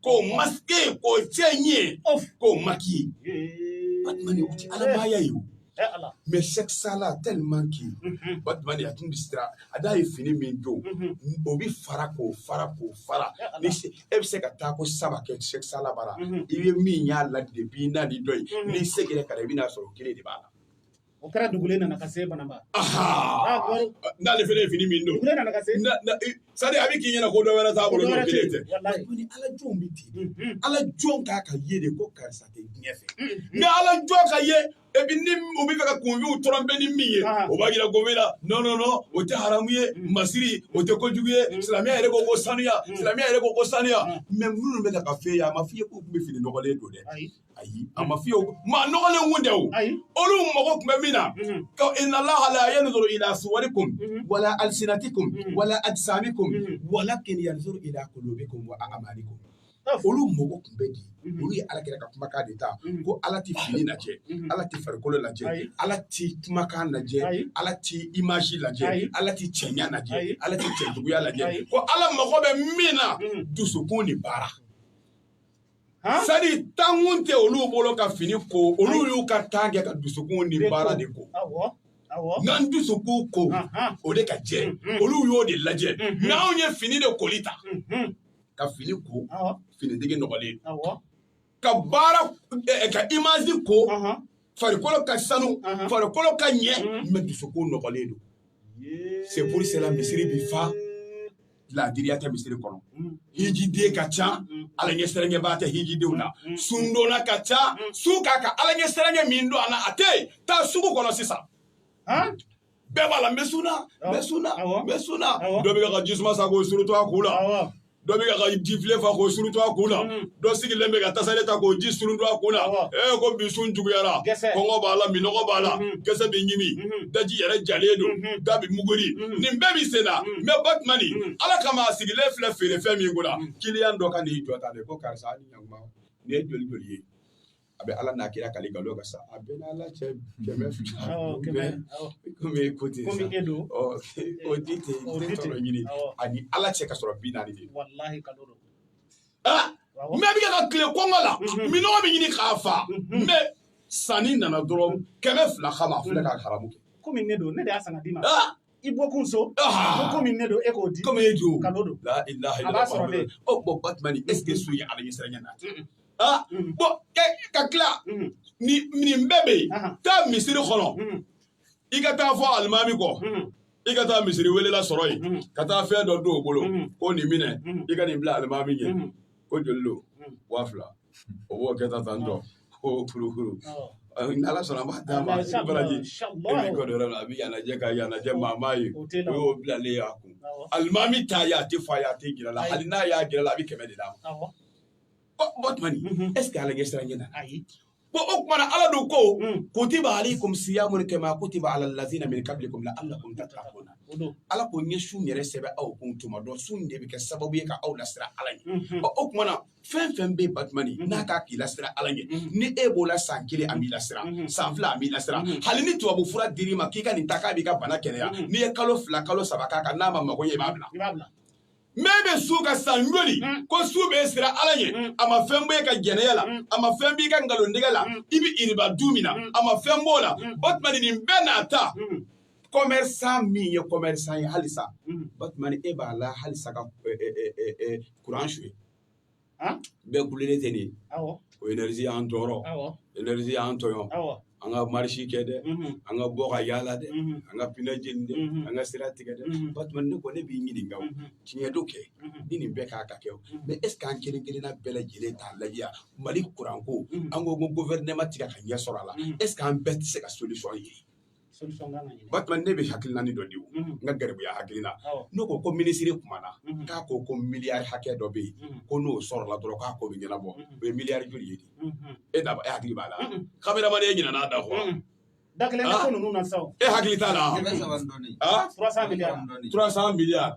k'o masike k'o cɛɲɛ k'o maki batumani o ti ala maaya ye o mɛ sɛki sala tɛliman ki batumani a tun bisira n'a ye fini min don mm-hmm. o bi fara k'o fara k'o fara ni e bɛ se ka taa ko saba kɛ sɛki sala bara mm-hmm. i bɛ min y'a la depi n'a ni dɔ ye mm-hmm. n'i segira ka na i bɛna sɔrɔ o kelen de b'a la O kɛra dugu nana ka se banamba n'ale fana ye fini min don sa a bɛ k'i ɲɛna ko dɔ wɛrɛ t'a bolo ala jɔn bɛ di ala jɔn k'a ka ye de ko karisa tɛ diɲɛ fɛ nka ala jɔn ka ye e bɛ ni u bɛ fɛ ka kunw t bɛ ni min ye o b'a jira gɔn la nɔɔnɔ o tɛ haramu ye masiriri o tɛ ko kojugu ye silamɛ yɛrɛ ko ko saniya silamɛ yɛrɛ ko ko saniya mɛ minnu bɛ ka fɛ ye a ma f fɔ ye k'u tun bɛ fini nɔgɔlen don dɛ ayi a ma fiyewu maa nɔgɔlen kun tɛ o ayi olu mago tun bɛ min na Mhm. ko inna allaha la yanzuru ila suwarikum Mhm. wala alsinatikum Mhm. wala ajsamikum Mhm. walakin yanzuru ila qulubikum wa a'malikum Taf. olu mago tun bɛ di Mhm. olu ye ala kira ka kumakan de ta Mhm. ko ala ti fini lajɛ Mhm. ala ti farikolo lajɛ Ayi. ala ti kumakan lajɛ Ayi. ala ti image Ayi. lajɛ ala ti cɛɲa Ayi. lajɛ ala ti cɛjuguya Ayi. lajɛ ko ala mago bɛ min na Mhm. dusukun ni baara sadi tan kun tɛ olu bolo ka fini ko olu y'u ka tan kɛ ka dusukun ni baara de ko n'an dusukun ko o de ka jɛ mm-hmm. olu y'o de lajɛ mm-hmm. n'anw ye fini de koli ta mm-hmm. ka fini ko finitigi nɔgɔlen don ka baara eh, eh, ka imazi ko farikolo ka sanu farikolo ka ɲɛ mɛ dusukun nɔgɔlen don c'est pour ça misiri bi fa ladiriya tɛ misiri kɔnɔ hijiden ka ca ala ɲɛsiranɲɛbaa tɛ hijidenw na sundonna ka ca sun ka kan ala ɲɛsiranɲɛ min don a la a tɛ yen taa sugu kɔnɔ sisan bɛɛ b'a la n bɛ sun na n bɛ sun na n bɛ sun na dɔ bɛ ka jisuma san k'o surutu a kun la dɔ bɛ ka ji filen fa k'o surutu a kun na dɔ sigilen bɛ ka tasale ta k'o ji surutu a kun na ee ko bi sun juguyara kɔngɔ b'a la minɔgɔ b'a la gɛsɛ bɛ ɲimi daji yɛrɛ jalen don da bɛ muguri nin bɛɛ bɛ sen na mɛ batumani ala kama a sigilen filɛ feerefɛn min kun na kiliyan dɔ ka n'i jɔ tan de ko karisa ni ɲakuma nin ye joli joli ye a bɛ ala n'a kira kali nkalon kan sa a bɛ n'ala cɛ kɛmɛ fila komi e ko ten sa o di ten i tɛ tɔnɔ ɲini a ni ala cɛ k'a sɔrɔ bi naani de ah, mɛ bɛ ka tile kɔngɔ la mhm. minɔgɔ bɛ ɲini k'a fa mhm. mɛ sanni nana dɔrɔn kɛmɛ fila kama a filɛ ka haramu kɛ komi ne don ne de y'a san ka d'i ma ah! i bɔkun so ah! ko komi ne don e k'o di komi e jo kalo don a b'a sɔrɔ ne o oh, bɔn batumani est ce que sun ye ala ɲɛsiranɲɛ nati ah bɔn ka tila nin bɛɛ bɛ yen taa misiri kɔnɔ i ka taa fɔ alimami kɔ i ka taa misiri welela sɔrɔ yen ka taa fɛn dɔ don o bolo ko nin minɛ i ka nin bila alimami ɲɛ ko joli don waa fila o b'o kɛ ta tan tɔ k'o kurukuru n'ala sɔnna an b'a d'a ma i baraji e b'i kɔ dɔrɔn a bɛ yan lajɛ ka yan lajɛ maa m'a ye o y'o bilalen y'a kun alimami t'a ye a tɛ fɔ a ye a t'a jira a la hali n'a y'a jira a la a bɛ kɛmɛ de d'a ma batumani ɛseke ala ɲɛsiran ɲɛ na ko o kuma na ala don ko hmm. kutiba alaikum siyamu kama kutiba ala allazina min qablikum la'allakum tattaquna ala ko n ye sun yɛrɛ sɛbɛn aw kun tuma dɔ sun de bɛ kɛ sababu ye ka aw lasiran ala ye hmm. o kuma na fɛn fɛn bɛ batumani hmm. n'a ka k'i lasiran ala ye ni e b'o la san kelen a m'i lasiran san fila a m'i lasiran hali ni tubabu fura dir'i ma k'i ka nin ta k'a b'i ka bana kɛnɛya n'i ye kalo fila kalo saba k'a kan n'a ma mago ɲɛ i b'a bila mɛ bɛ sun ka san joli mm. ko sun b'i siran ala ye mm. a ma fɛn b'e ka jɛnɛya la mm. a ma fɛn b'i ka nkalontigɛ la i bɛ iriba dun min na a ma fɛn b'o la batumani nin bɛɛ n'a ta kɔmɛrisan min ye kɔmɛrisan ye halisa batumani e b'a la halisa ka kuran su ye bɛɛ kulelen tɛ nin ko enɛrizi y'an tɔɔrɔ enɛrizi y'an tɔɔrɔ an ka marisi kɛ dɛ an ka bɔ ka yaala dɛ an ka pinɛ jeni dɛ an ka sira tigɛ dɛ batuma ne kɔni ne b'i ɲininka tiɲɛ don kɛ ni nin bɛɛ ka kan ka kɛ mɛ es k'an kelen kelenna bɛɛ lajɛlen t'a lajɛ yan mali kuranko an ko gofɛrɛnaman tɛ kɛ ka ɲɛ sɔrɔ a la es k'an bɛɛ tɛ se ka solisɔn ye batuma ne bɛ hakilinanin dɔ di o n ka garibuya hakilina n'o ko ko minisiri kumana k'a ko ko miliyari hakɛ dɔ bɛ yen ko n'o sɔrɔla dɔrɔn k'a ko bɛ ɲɛnabɔ o ye miliyari joli ye e da e hakili b'a la kameramani e ɲinɛna a da kɔ da kelen ko ninnu na sa e hakili t'a la turasan miliyari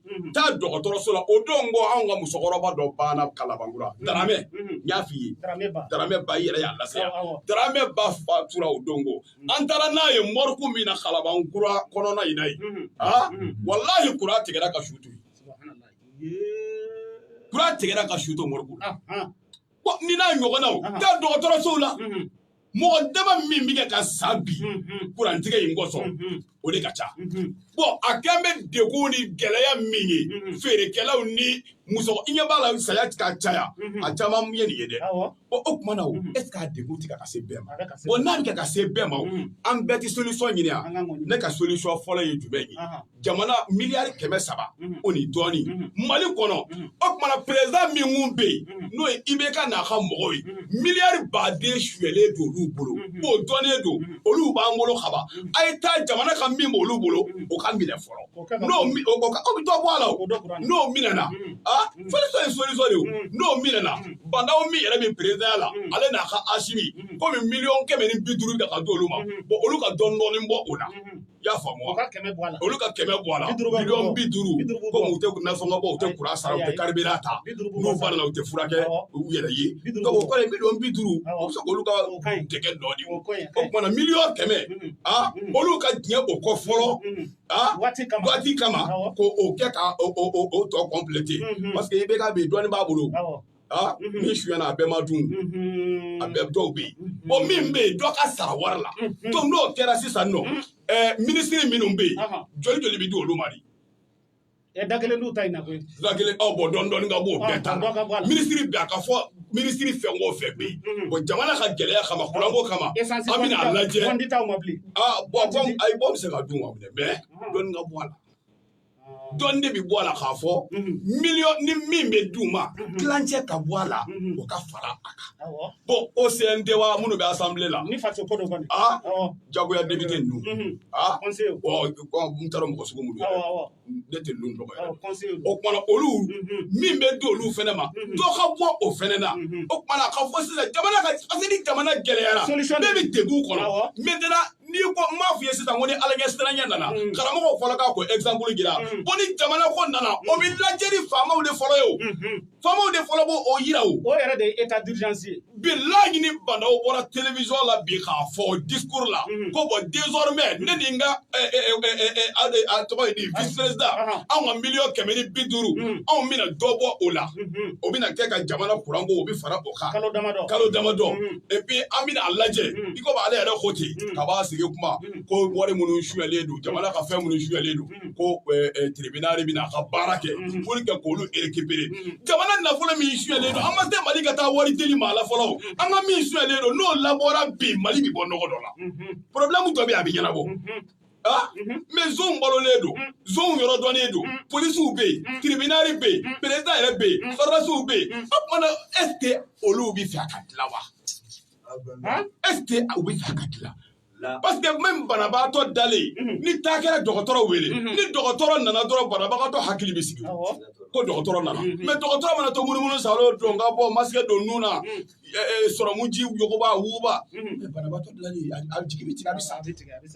Mhm. taa dɔgɔtɔrɔso la o don ko anw ka musokɔrɔba dɔ banna kalabankura mhm. daramɛ mhm. n y'a f'i ye daramɛ ba i yɛrɛ y'a lase yan daramɛ ba fatura o don ko an taara n'a ye mɔriku min na kalabankura kɔnɔna in na yen aa walahi kuran tigɛra ka su to yen kuran tigɛra ka su to mɔriku la nin n'a ɲɔgɔnnaw taa dɔgɔtɔrɔsow la mɔgɔ dama min bɛ kɛ ka sa bi kurantigɛ in kosɔn o de ka ca bɔn a kɛlen bɛ degun ni gɛlɛya min ye feerekɛlaw ni muso i ɲɛ b'a la saya ka caya a caman ye nin ye dɛ bɔn o tuma na o es k'a degun tɛ kɛ ka se bɛɛ ma bɔn n'a bɛ kɛ ka se bɛɛ ma an bɛɛ tɛ solisɔn ɲini yan ne ka solisɔn fɔlɔ ye jumɛn ye jamana miliyari kɛmɛ saba o ni dɔɔni mali kɔnɔ o tumana perezidan min kun bɛ yen n'o ye IBK n'a ka mɔgɔw ye miliyari baden suyalen don olu bolo o dɔnnen don olu b'an bolo kaba a ye taa jamana ka min b'olu bolo o ka minɛ fɔlɔ n'o aw bɛ dɔ bɔ a la n'o minɛna aa fɔlisa ye solisɔ de n'o minɛna bandaw min yɛrɛ bɛ perezidanya la ale n'a ka asimi komi miliyɔn kɛmɛ ni bi duuru ta ka di olu ma olu ka dɔɔni dɔɔni bɔ o la y'a faamu olu ka kɛmɛ bɔ a la bi duuru ko u tɛ nasɔngɔ bɔ u tɛ kuran sara u tɛ karibiran ta n'u banana u tɛ furakɛ u yɛrɛ ye bi duuru bi duuru u bɛ se k'olu ka dɛgɛ dɔ di o kumana miliyɔn kɛmɛ a olu ka diɲɛ o kɔ fɔlɔ a waati kama ko o kɛ ka o tɔ kɔnplete paseke IBK bi dɔɔnin b'a bolo aa min suyana a bɛɛ ma dun a bɛɛ dɔw bɛ yen bɔn min bɛ yen dɔ ka sara wari la to n'o kɛra sisan nɔ ɛɛ minisiri minnu bɛ yen joli joli bɛ di olu ma de ɛ da kelen n'u ta in na koyi da kelen aw bɔ dɔɔni dɔɔni ka bɔ o bɛɛ ta la minisiri bɛɛ a ka fɔ minisiri fɛn o fɛn bɛ yen bɔn jamana ka gɛlɛya kama kuranko kama an bɛna a lajɛ aa bɔn ayi bɔ bɛ se ka dun wa mɛ dɔɔni ka bɔ a la dɔɔni de bɛ bɔ a la k'a fɔ miliyɔn ni min bɛ d'u ma tilancɛ ka bɔ a la o ka fara a kan bɔn o CNT wa minnu bɛ asanbile la ni faso ko don kɔni aa jagoya depite ninnu aa bɔn n taara mɔgɔ sugu minnu ne tɛ ninnu dɔgɔ yɛrɛ o kumana olu min bɛ di olu fɛnɛ ma dɔ ka bɔ o fɛnɛ na o kumana a ka fɔ sisan jamana ka parce que ni jamana gɛlɛyara bɛɛ bɛ degun kɔnɔ maintenant n'i ko n b'a f'i ye sisan ko ni alaɲɛsiranya nana mm. karamɔgɔw fɔlɔ k'a ko exemple jira mm. ko ni jamana ko nana o bɛ lajɛ ni faamaw de fɔlɔ ye o mm-hmm. faamaw de fɔlɔ b'o o yira o o yɛrɛ de ye état d'urgence ye bilahi ni bandaw bɔra télévision la bi k'a fɔ discours la mm-hmm. ko bɔn désormais ne ni n ka a tɔgɔ ye di ah. vice président ah. anw ka miliyɔn kɛmɛ ni bi duuru mm. anw bɛna dɔ bɔ o la mm-hmm. o bɛna kɛ ka jamana kuranko o bɛ fara o kalo damadɔ kalo damadɔ epi an bɛna a lajɛ i komi ale yɛrɛ ko ten kab'a sigi kuma ko wari minnu suyalen don jamana ka fɛn minnu suyalen don ko tribunal de bɛna a ka baara kɛ pour que k'olu récupérer jamana nafolo min suyalen don an ma se mali ka taa wari deli maa la fɔlɔ an ka min suyalen don n'o labɔra bi mali bɛ bɔ nɔgɔ dɔ la problème dɔ bɛ yen a bɛ ɲɛnabɔ Ah, mhm. mɛ zonw balolen don mhm. zonw yɔrɔ dɔnnen don mhm. polisiw bɛ yen tiribinari bɛ yen perezidan yɛrɛ bɛ yen sɔrɔdasiw bɛ yen o kumana ɛsike olu bɛ fɛ a ka dilan wa ɛsike u bɛ fɛ a ka dilan parce que même banabagatɔ dalen ni taa kɛra dɔgɔtɔrɔ wele ni dɔgɔtɔrɔ nana dɔrɔn banabagatɔ hakili bɛ sigi ko dɔgɔtɔrɔ nana mɛ dɔgɔtɔrɔ mana to munumunu sa o don ka bɔ masakɛ don nun na sɔrɔmuji yogoba wuguba mhm. banabaatɔ dilali a jigi bɛ tigɛ a bɛ sa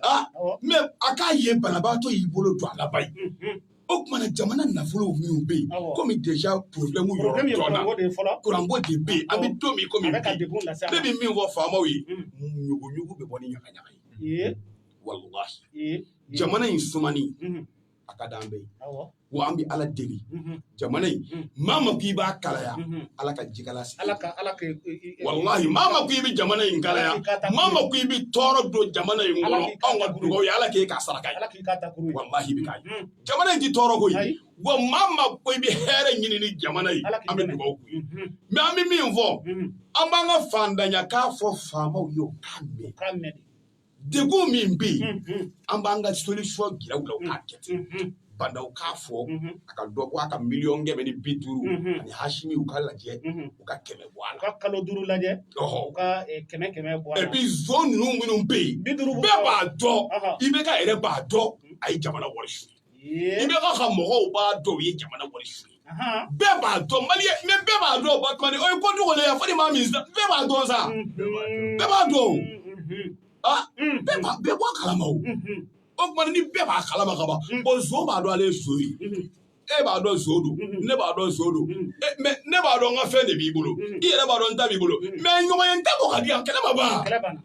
ah, mɛ a k'a ye banabaatɔ y'i bolo don a laban ye mhm. o tuma na jamana nafolo minnu bɛ yen komi deja porobilɛmu yɔrɔ dɔ la kuranko de bɛ yen an bɛ don min komi bi ne bɛ min fɔ faamaw ye ɲuguɲugu mhm. bɛ bɔ ni ɲagaɲaga ye walahi jamana in sumani a ka d'an bɛɛ wa an bɛ ala deli mhm. jamana in mhm. maa maa ko i b'a kalaya mhm. ala ka jikala sigi ala ka ala ka walahi maa maa ko i bɛ jamana in kalaya maa maa ko i bɛ tɔɔrɔ don jamana in kɔnɔ anw ka dugawu ye ala k'e k'a saraka ye walahi i bɛ k'a ye jamana in tɛ tɔɔrɔ koyi wa maa maa ko i bɛ hɛrɛ ɲini ni jamana ye an bɛ dugawu k'u ye mɛ an bɛ min fɔ an b'an ka faantanya kan fɔ faamaw ye u k'a mɛn degun min bɛ yen an b'an ka solution jira u la u k'a kɛ ten bandaw k'a fɔ a ka dɔ bɔ a ka miliyɔn kɛmɛ ni bi duuru ani hasimi u ka lajɛ u ka kɛmɛ bɔ a la u ka kalo duuru lajɛ u ka kɛmɛ kɛmɛ bɔ a la epi zon ninnu minnu bɛ yen bɛɛ b'a dɔn IBK yɛrɛ b'a dɔn a ye jamana wari su IBK ka mɔgɔw b'a dɔn u ye jamana wari suya bɛɛ b'a dɔn mali mɛ bɛɛ b'a dɔn ba kɔni o ye ko dugu ya fo ni maa min bɛɛ b'a dɔn sa bɛɛ b'a dɔn ah bɛɛ b'a bɛɛ bɔ a kalama o o tuma ni bɛɛ b'a kalama ka ban o zon b'a dɔn ale ye zon ye e b'a dɔn zon don ne b'a dɔn zon don mɛ ne b'a dɔn n ka fɛn de b'i bolo i yɛrɛ b'a dɔn n ta b'i bolo mɛ ɲɔgɔn ye n ta bɔ ka di yan kɛlɛ ma ban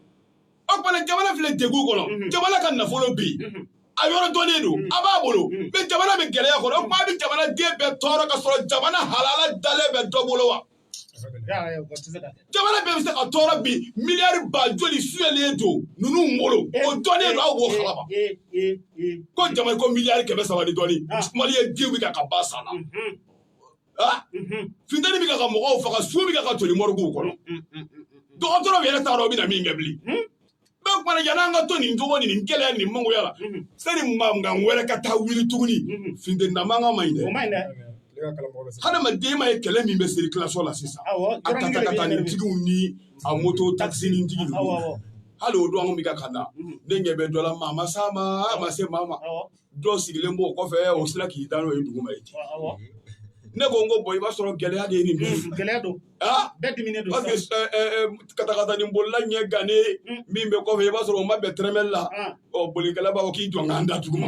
o tuma jamana filɛ degun kɔnɔ jamana ka nafolo bɛ yen a yɔrɔ dɔnnen don a b'a bolo mɛ jamana bɛ gɛlɛya kɔnɔ o tuma a bɛ jamana den bɛɛ tɔɔrɔ ka sɔrɔ jamana halala dalen bɛ dɔ bolo wa jamana bɛɛ bɛ se ka tɔɔrɔ bi miliyari ba joli suyalen don ninnu bolo o dɔnnen don aw b'o kalama ko jama ko miliyari kɛmɛ saba ni dɔɔnin mali ye den wuli ka ka ba san na funteni bɛ ka mɔgɔw faga su bɛ ka toli mɔrɔgu kɔnɔ dɔgɔtɔrɔw yɛrɛ t'a dɔn u bɛna min kɛ bilen bɛɛ kumana yanni an ka to nin cogo ni nin gɛlɛya nin mangoya la sani mankan wɛrɛ ka taa wuli tuguni funteni na mankan man ɲi dɛ hadamaden m'a ye kɛlɛ min bɛ sirikilasɔn na sisan a katakatani tigiw ni a moto takisini tigi ninnu hali o don an bɛ ka ka na ne ɲɛ bɛ dɔ la maa ma s'a ma a ma se maa ma dɔ sigilen b'o kɔfɛ o sera k'i da n'o ye dugu ma ye ten ne ko n ko bɔn i b'a sɔrɔ gɛlɛya de ye nin bɛɛ gɛlɛya don bɛɛ diminen don parce que katakatani bolila ɲɛ gannen min bɛ kɔfɛ i b'a sɔrɔ o ma bɛn tɛrɛmɛli la ɔ bolikɛla b'a fɔ k'i jɔ n ka n da dugu ma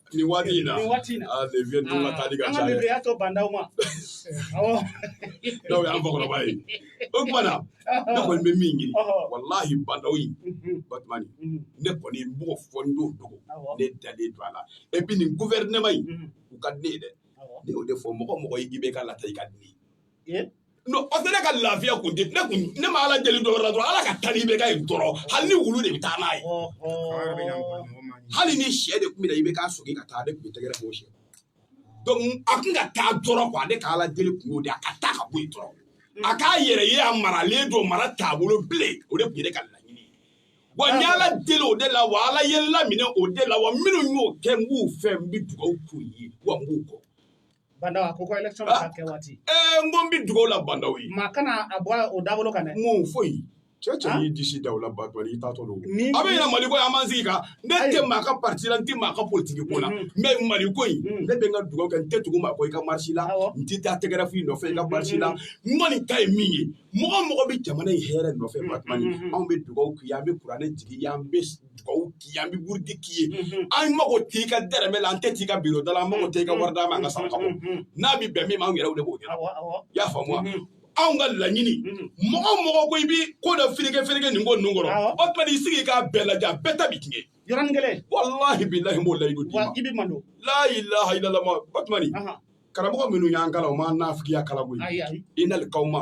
Ni waati in na ni waati in na aa les vieux ninnu ka taali ka an ca ka dɛ bibiriya to bandaw ma awɔ ndaw y'an fakɔrɔba ye o tuma na ne kɔni bɛ min ɲini Ɔhɔ. walahi bandaw in Mhm, batumani mhm, ne kɔni n b'o fɔ n t'o dogo awɔ ne dalen don a la et puis nin gouvernement in Mhm, u ka di ne ye dɛ awɔ ne y'o de fɔ mɔgɔ mɔgɔ ye IBK lataa i ka di ne ye Ye? non parce que ne ka lafiya kun tɛ ne kun ne ma ala deli dɔ wɛrɛ la dɔrɔn ala ka taa n'IBK ye dɔrɔn hali ni wulu de bɛ taa n'a ye hali ni sɛ de tun bɛ na IBK sɔgin ka taa ne tun bɛ tɛgɛrɛ k'o sɛ donc a tun ka taa dɔrɔn quoi ne ka ala deli kun y'o de ye a ka taa ka bɔ yen dɔrɔn a k'a yɛrɛ ye a maralen don mara taabolo bilen o de tun ye ne ka laɲini ye wa n ye ala deli o de la wa ala ye n laminɛ o de la wa minnu y'o kɛ n b'u fɛ n bɛ dugawu k'u ye wa n b'u kɔ Bandaw a ko ko election bɛ ka kɛ waati. Ɛɛ n ko n bɛ dugawu la Bandaw ye. Maa kana a bɔ o dabolo kan dɛ. Mun foyi. Cɛ wo cɛ y'i disi da o la ba i taatɔ don a bɛ yɛlɛ mali ko an ma sigi kan ne tɛ maa ka pati la n tɛ maa ka politigi ko la n bɛ mali ko in ne bɛ n ka dugawu kɛ n tɛ tugu maa kɔ i ka marisi la n tɛ taa tɛgɛrɛ fɔ i nɔfɛ i ka marisi la n kɔni ta ye min ye mɔgɔ o mɔgɔ bɛ jamana in hɛɛrɛ nɔfɛ ba anw bɛ dugawu k'i ye an bɛ kuranɛ jigin an bɛ dugawu k'i ye an bɛ burudi k'i ye an mago t'i ka dɛrɛmɛ la an tɛ t'i ka biro da la an mago t'i ka wari d'an ma an ka saraka bɔ n'a bɛ bɛn min ma an yɛrɛw de b'o ɲɛnabɔ i y'a faamu wa anw ka laɲini mɔgɔ o mɔgɔ ko i bɛ ko dɔ fereke fereke nin ko ninnu kɔrɔ o tuma i sigi k'a bɛɛ lajɛ a bɛɛ ta bɛ tiɲɛ yɔrɔnin kelen walahi bilahi n b'o layidu d'i ma i bɛ malo la ilaha illallah o tuma karamɔgɔ minnu y'an kalan u m'an nafigiya kalan koyi i nalikaw ma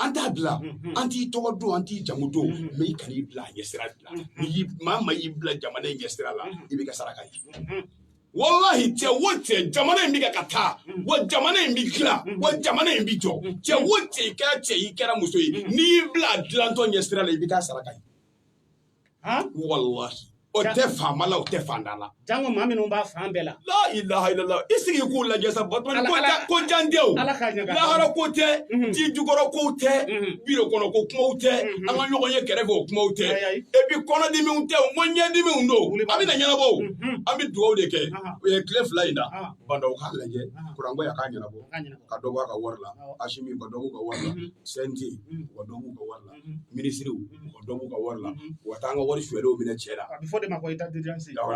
an t'a bila mm-hmm. an t'i tɔgɔ don an t'i jamu don mm-hmm. mais i kan'i bila a ɲɛsira de la mm-hmm. maa maa y'i bila jamana in ɲɛsira la i bɛ k'a saraka ye walahi cɛ wo cɛ jamana in bɛ kɛ ka taa wa jamana in bɛ dilan wa jamana in bɛ jɔ cɛ wo cɛ i kɛra cɛ i kɛra muso ye n'i y'i bila a dilantɔ ɲɛsira la i bɛ k'a saraka ye walahi o tɛ faama la o tɛ faantan la janko maa minnu b'a fan bɛɛ la la ilaha illallah i sigi k'u lajɛ sa ba ko jan tɛ lahara ko tɛ mhm. ji jukɔrɔ ko tɛ mhm. bin kɔnɔ ko kumaw tɛ mhm. an ka ɲɔgɔn ye kɛrɛfɛ o kumaw tɛ et puis kɔnɔdimiw tɛ o ko ɲɛdimiw don a bɛ na ɲɛnabɔ an bɛ dugawu de kɛ o ye tile fila in na bandaw k'a lajɛ kuranko in ka ɲɛnabɔ ka dɔ bɔ a ka wari la asimi ka dɔ b'u ka wari la CNT ka dɔ b'u ka wari la minisiriw u ka dɔ b'u ka wari la u ka taa an ka wari sonyalenw minɛ cɛ la a bɛ f'o de ma ko état d'urgence Awɔ.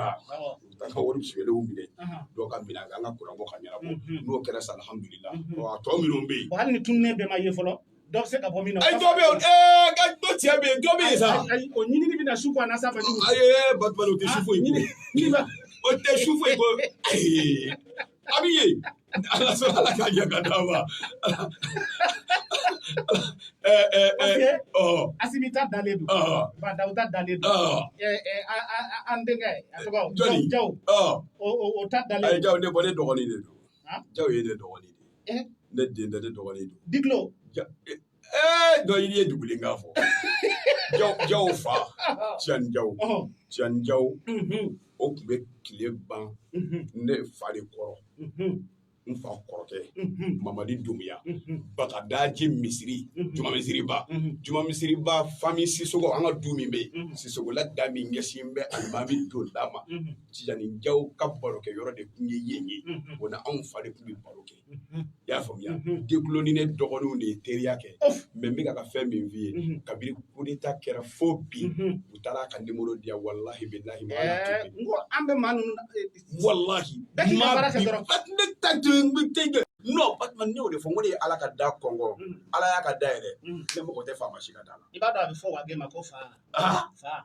u ka taa an ka wari sonyalenw minɛ Ahan. dɔw ka minɛ an ka kuranko ka ɲɛnabɔ Mhm. n'o kɛra sa alihamudulila Mhm. ɔ a tɔ minnu bɛ yen Bon, hali ni tununen bɛɛ ma ye fɔlɔ dɔ bɛ se ka bɔ min na ayi dɔ bɛ yen ɛɛ ka dɔ cɛ bɛ yen dɔ bɛ yen sa Ayi, ayi, o ɲinini bɛna su ko a na sa fɛ jugu ayi batubali o tɛ su foyi ko ɲini ba o tɛ su foyi ko ayi Abi ye ala sɔrɔ ala k'a ɲɛ ka d'a ma asimi ta dalen don bandaw ta dalen don an denkɛ a tɔgɔ jɔni jaw o ta dalen ye jaw ne bɔ ne dɔgɔnin de don jaw ye ne dɔgɔnin de ye ne den tɛ ne dɔgɔnin don dikilo ee dɔ yiri ye dugulen k'a fɔ jaw jaw fa tijani jaw tijani jaw o tun bɛ tile ban ne fa de kɔrɔ n fa kɔrɔkɛ mamadi dumuya bagadaji misiri juma misiriba juma misiriba fami sisogo an ka du min bɛ yen sisogola da min ɲɛsin bɛ alimami donda ma tijani jaw ka barokɛyɔrɔ de tun ye yen ye o n'anw fa de tun bɛ baro kɛ i y'a faamuya dekuloni ne dɔgɔninw de ye teriya kɛ mɛ n bɛ ka ka fɛn min f'i ye kabiri kudeta kɛra fo bi u taara ka nimoro diya walahi bilahi n ko an bɛ maa ninnu walahi ne ta jɔn n bɛ te jɔ n'o batuma ne y'o de fɔ n ko ne ye ala ka da konkon ala y'a ka da yɛlɛ ne mako tɛ faama si ka da la i b'a dɔn a bɛ fɔ wa ma ko fa fa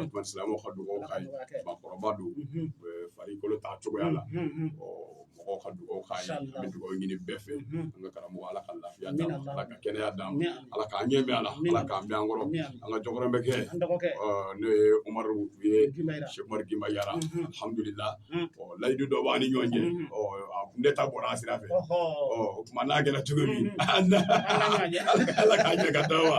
o tuma silamɛw ka dugawu ka ɲi bakɔrɔba don farikolo ta cogoya la mɔgɔw ka dugawu k'a ye an bɛ dugawu ɲini bɛɛ fɛ an ka karamɔgɔ ala ka lafiya d'a ma ala ka kɛnɛya d'a ma ala k'an ɲɛ mɛɛn a la ala k'a mɛɛn an kɔrɔ an ka jɔkɔrɔmɛkɛ n'o ye umaru ye sɛku umaru gima yara alhamdulila layidu dɔ b'an ni ɲɔgɔn cɛ a kun tɛ taa bɔra a sira fɛ o tuma n'a kɛra cogo min ala k'a ɲɛ ka taa wa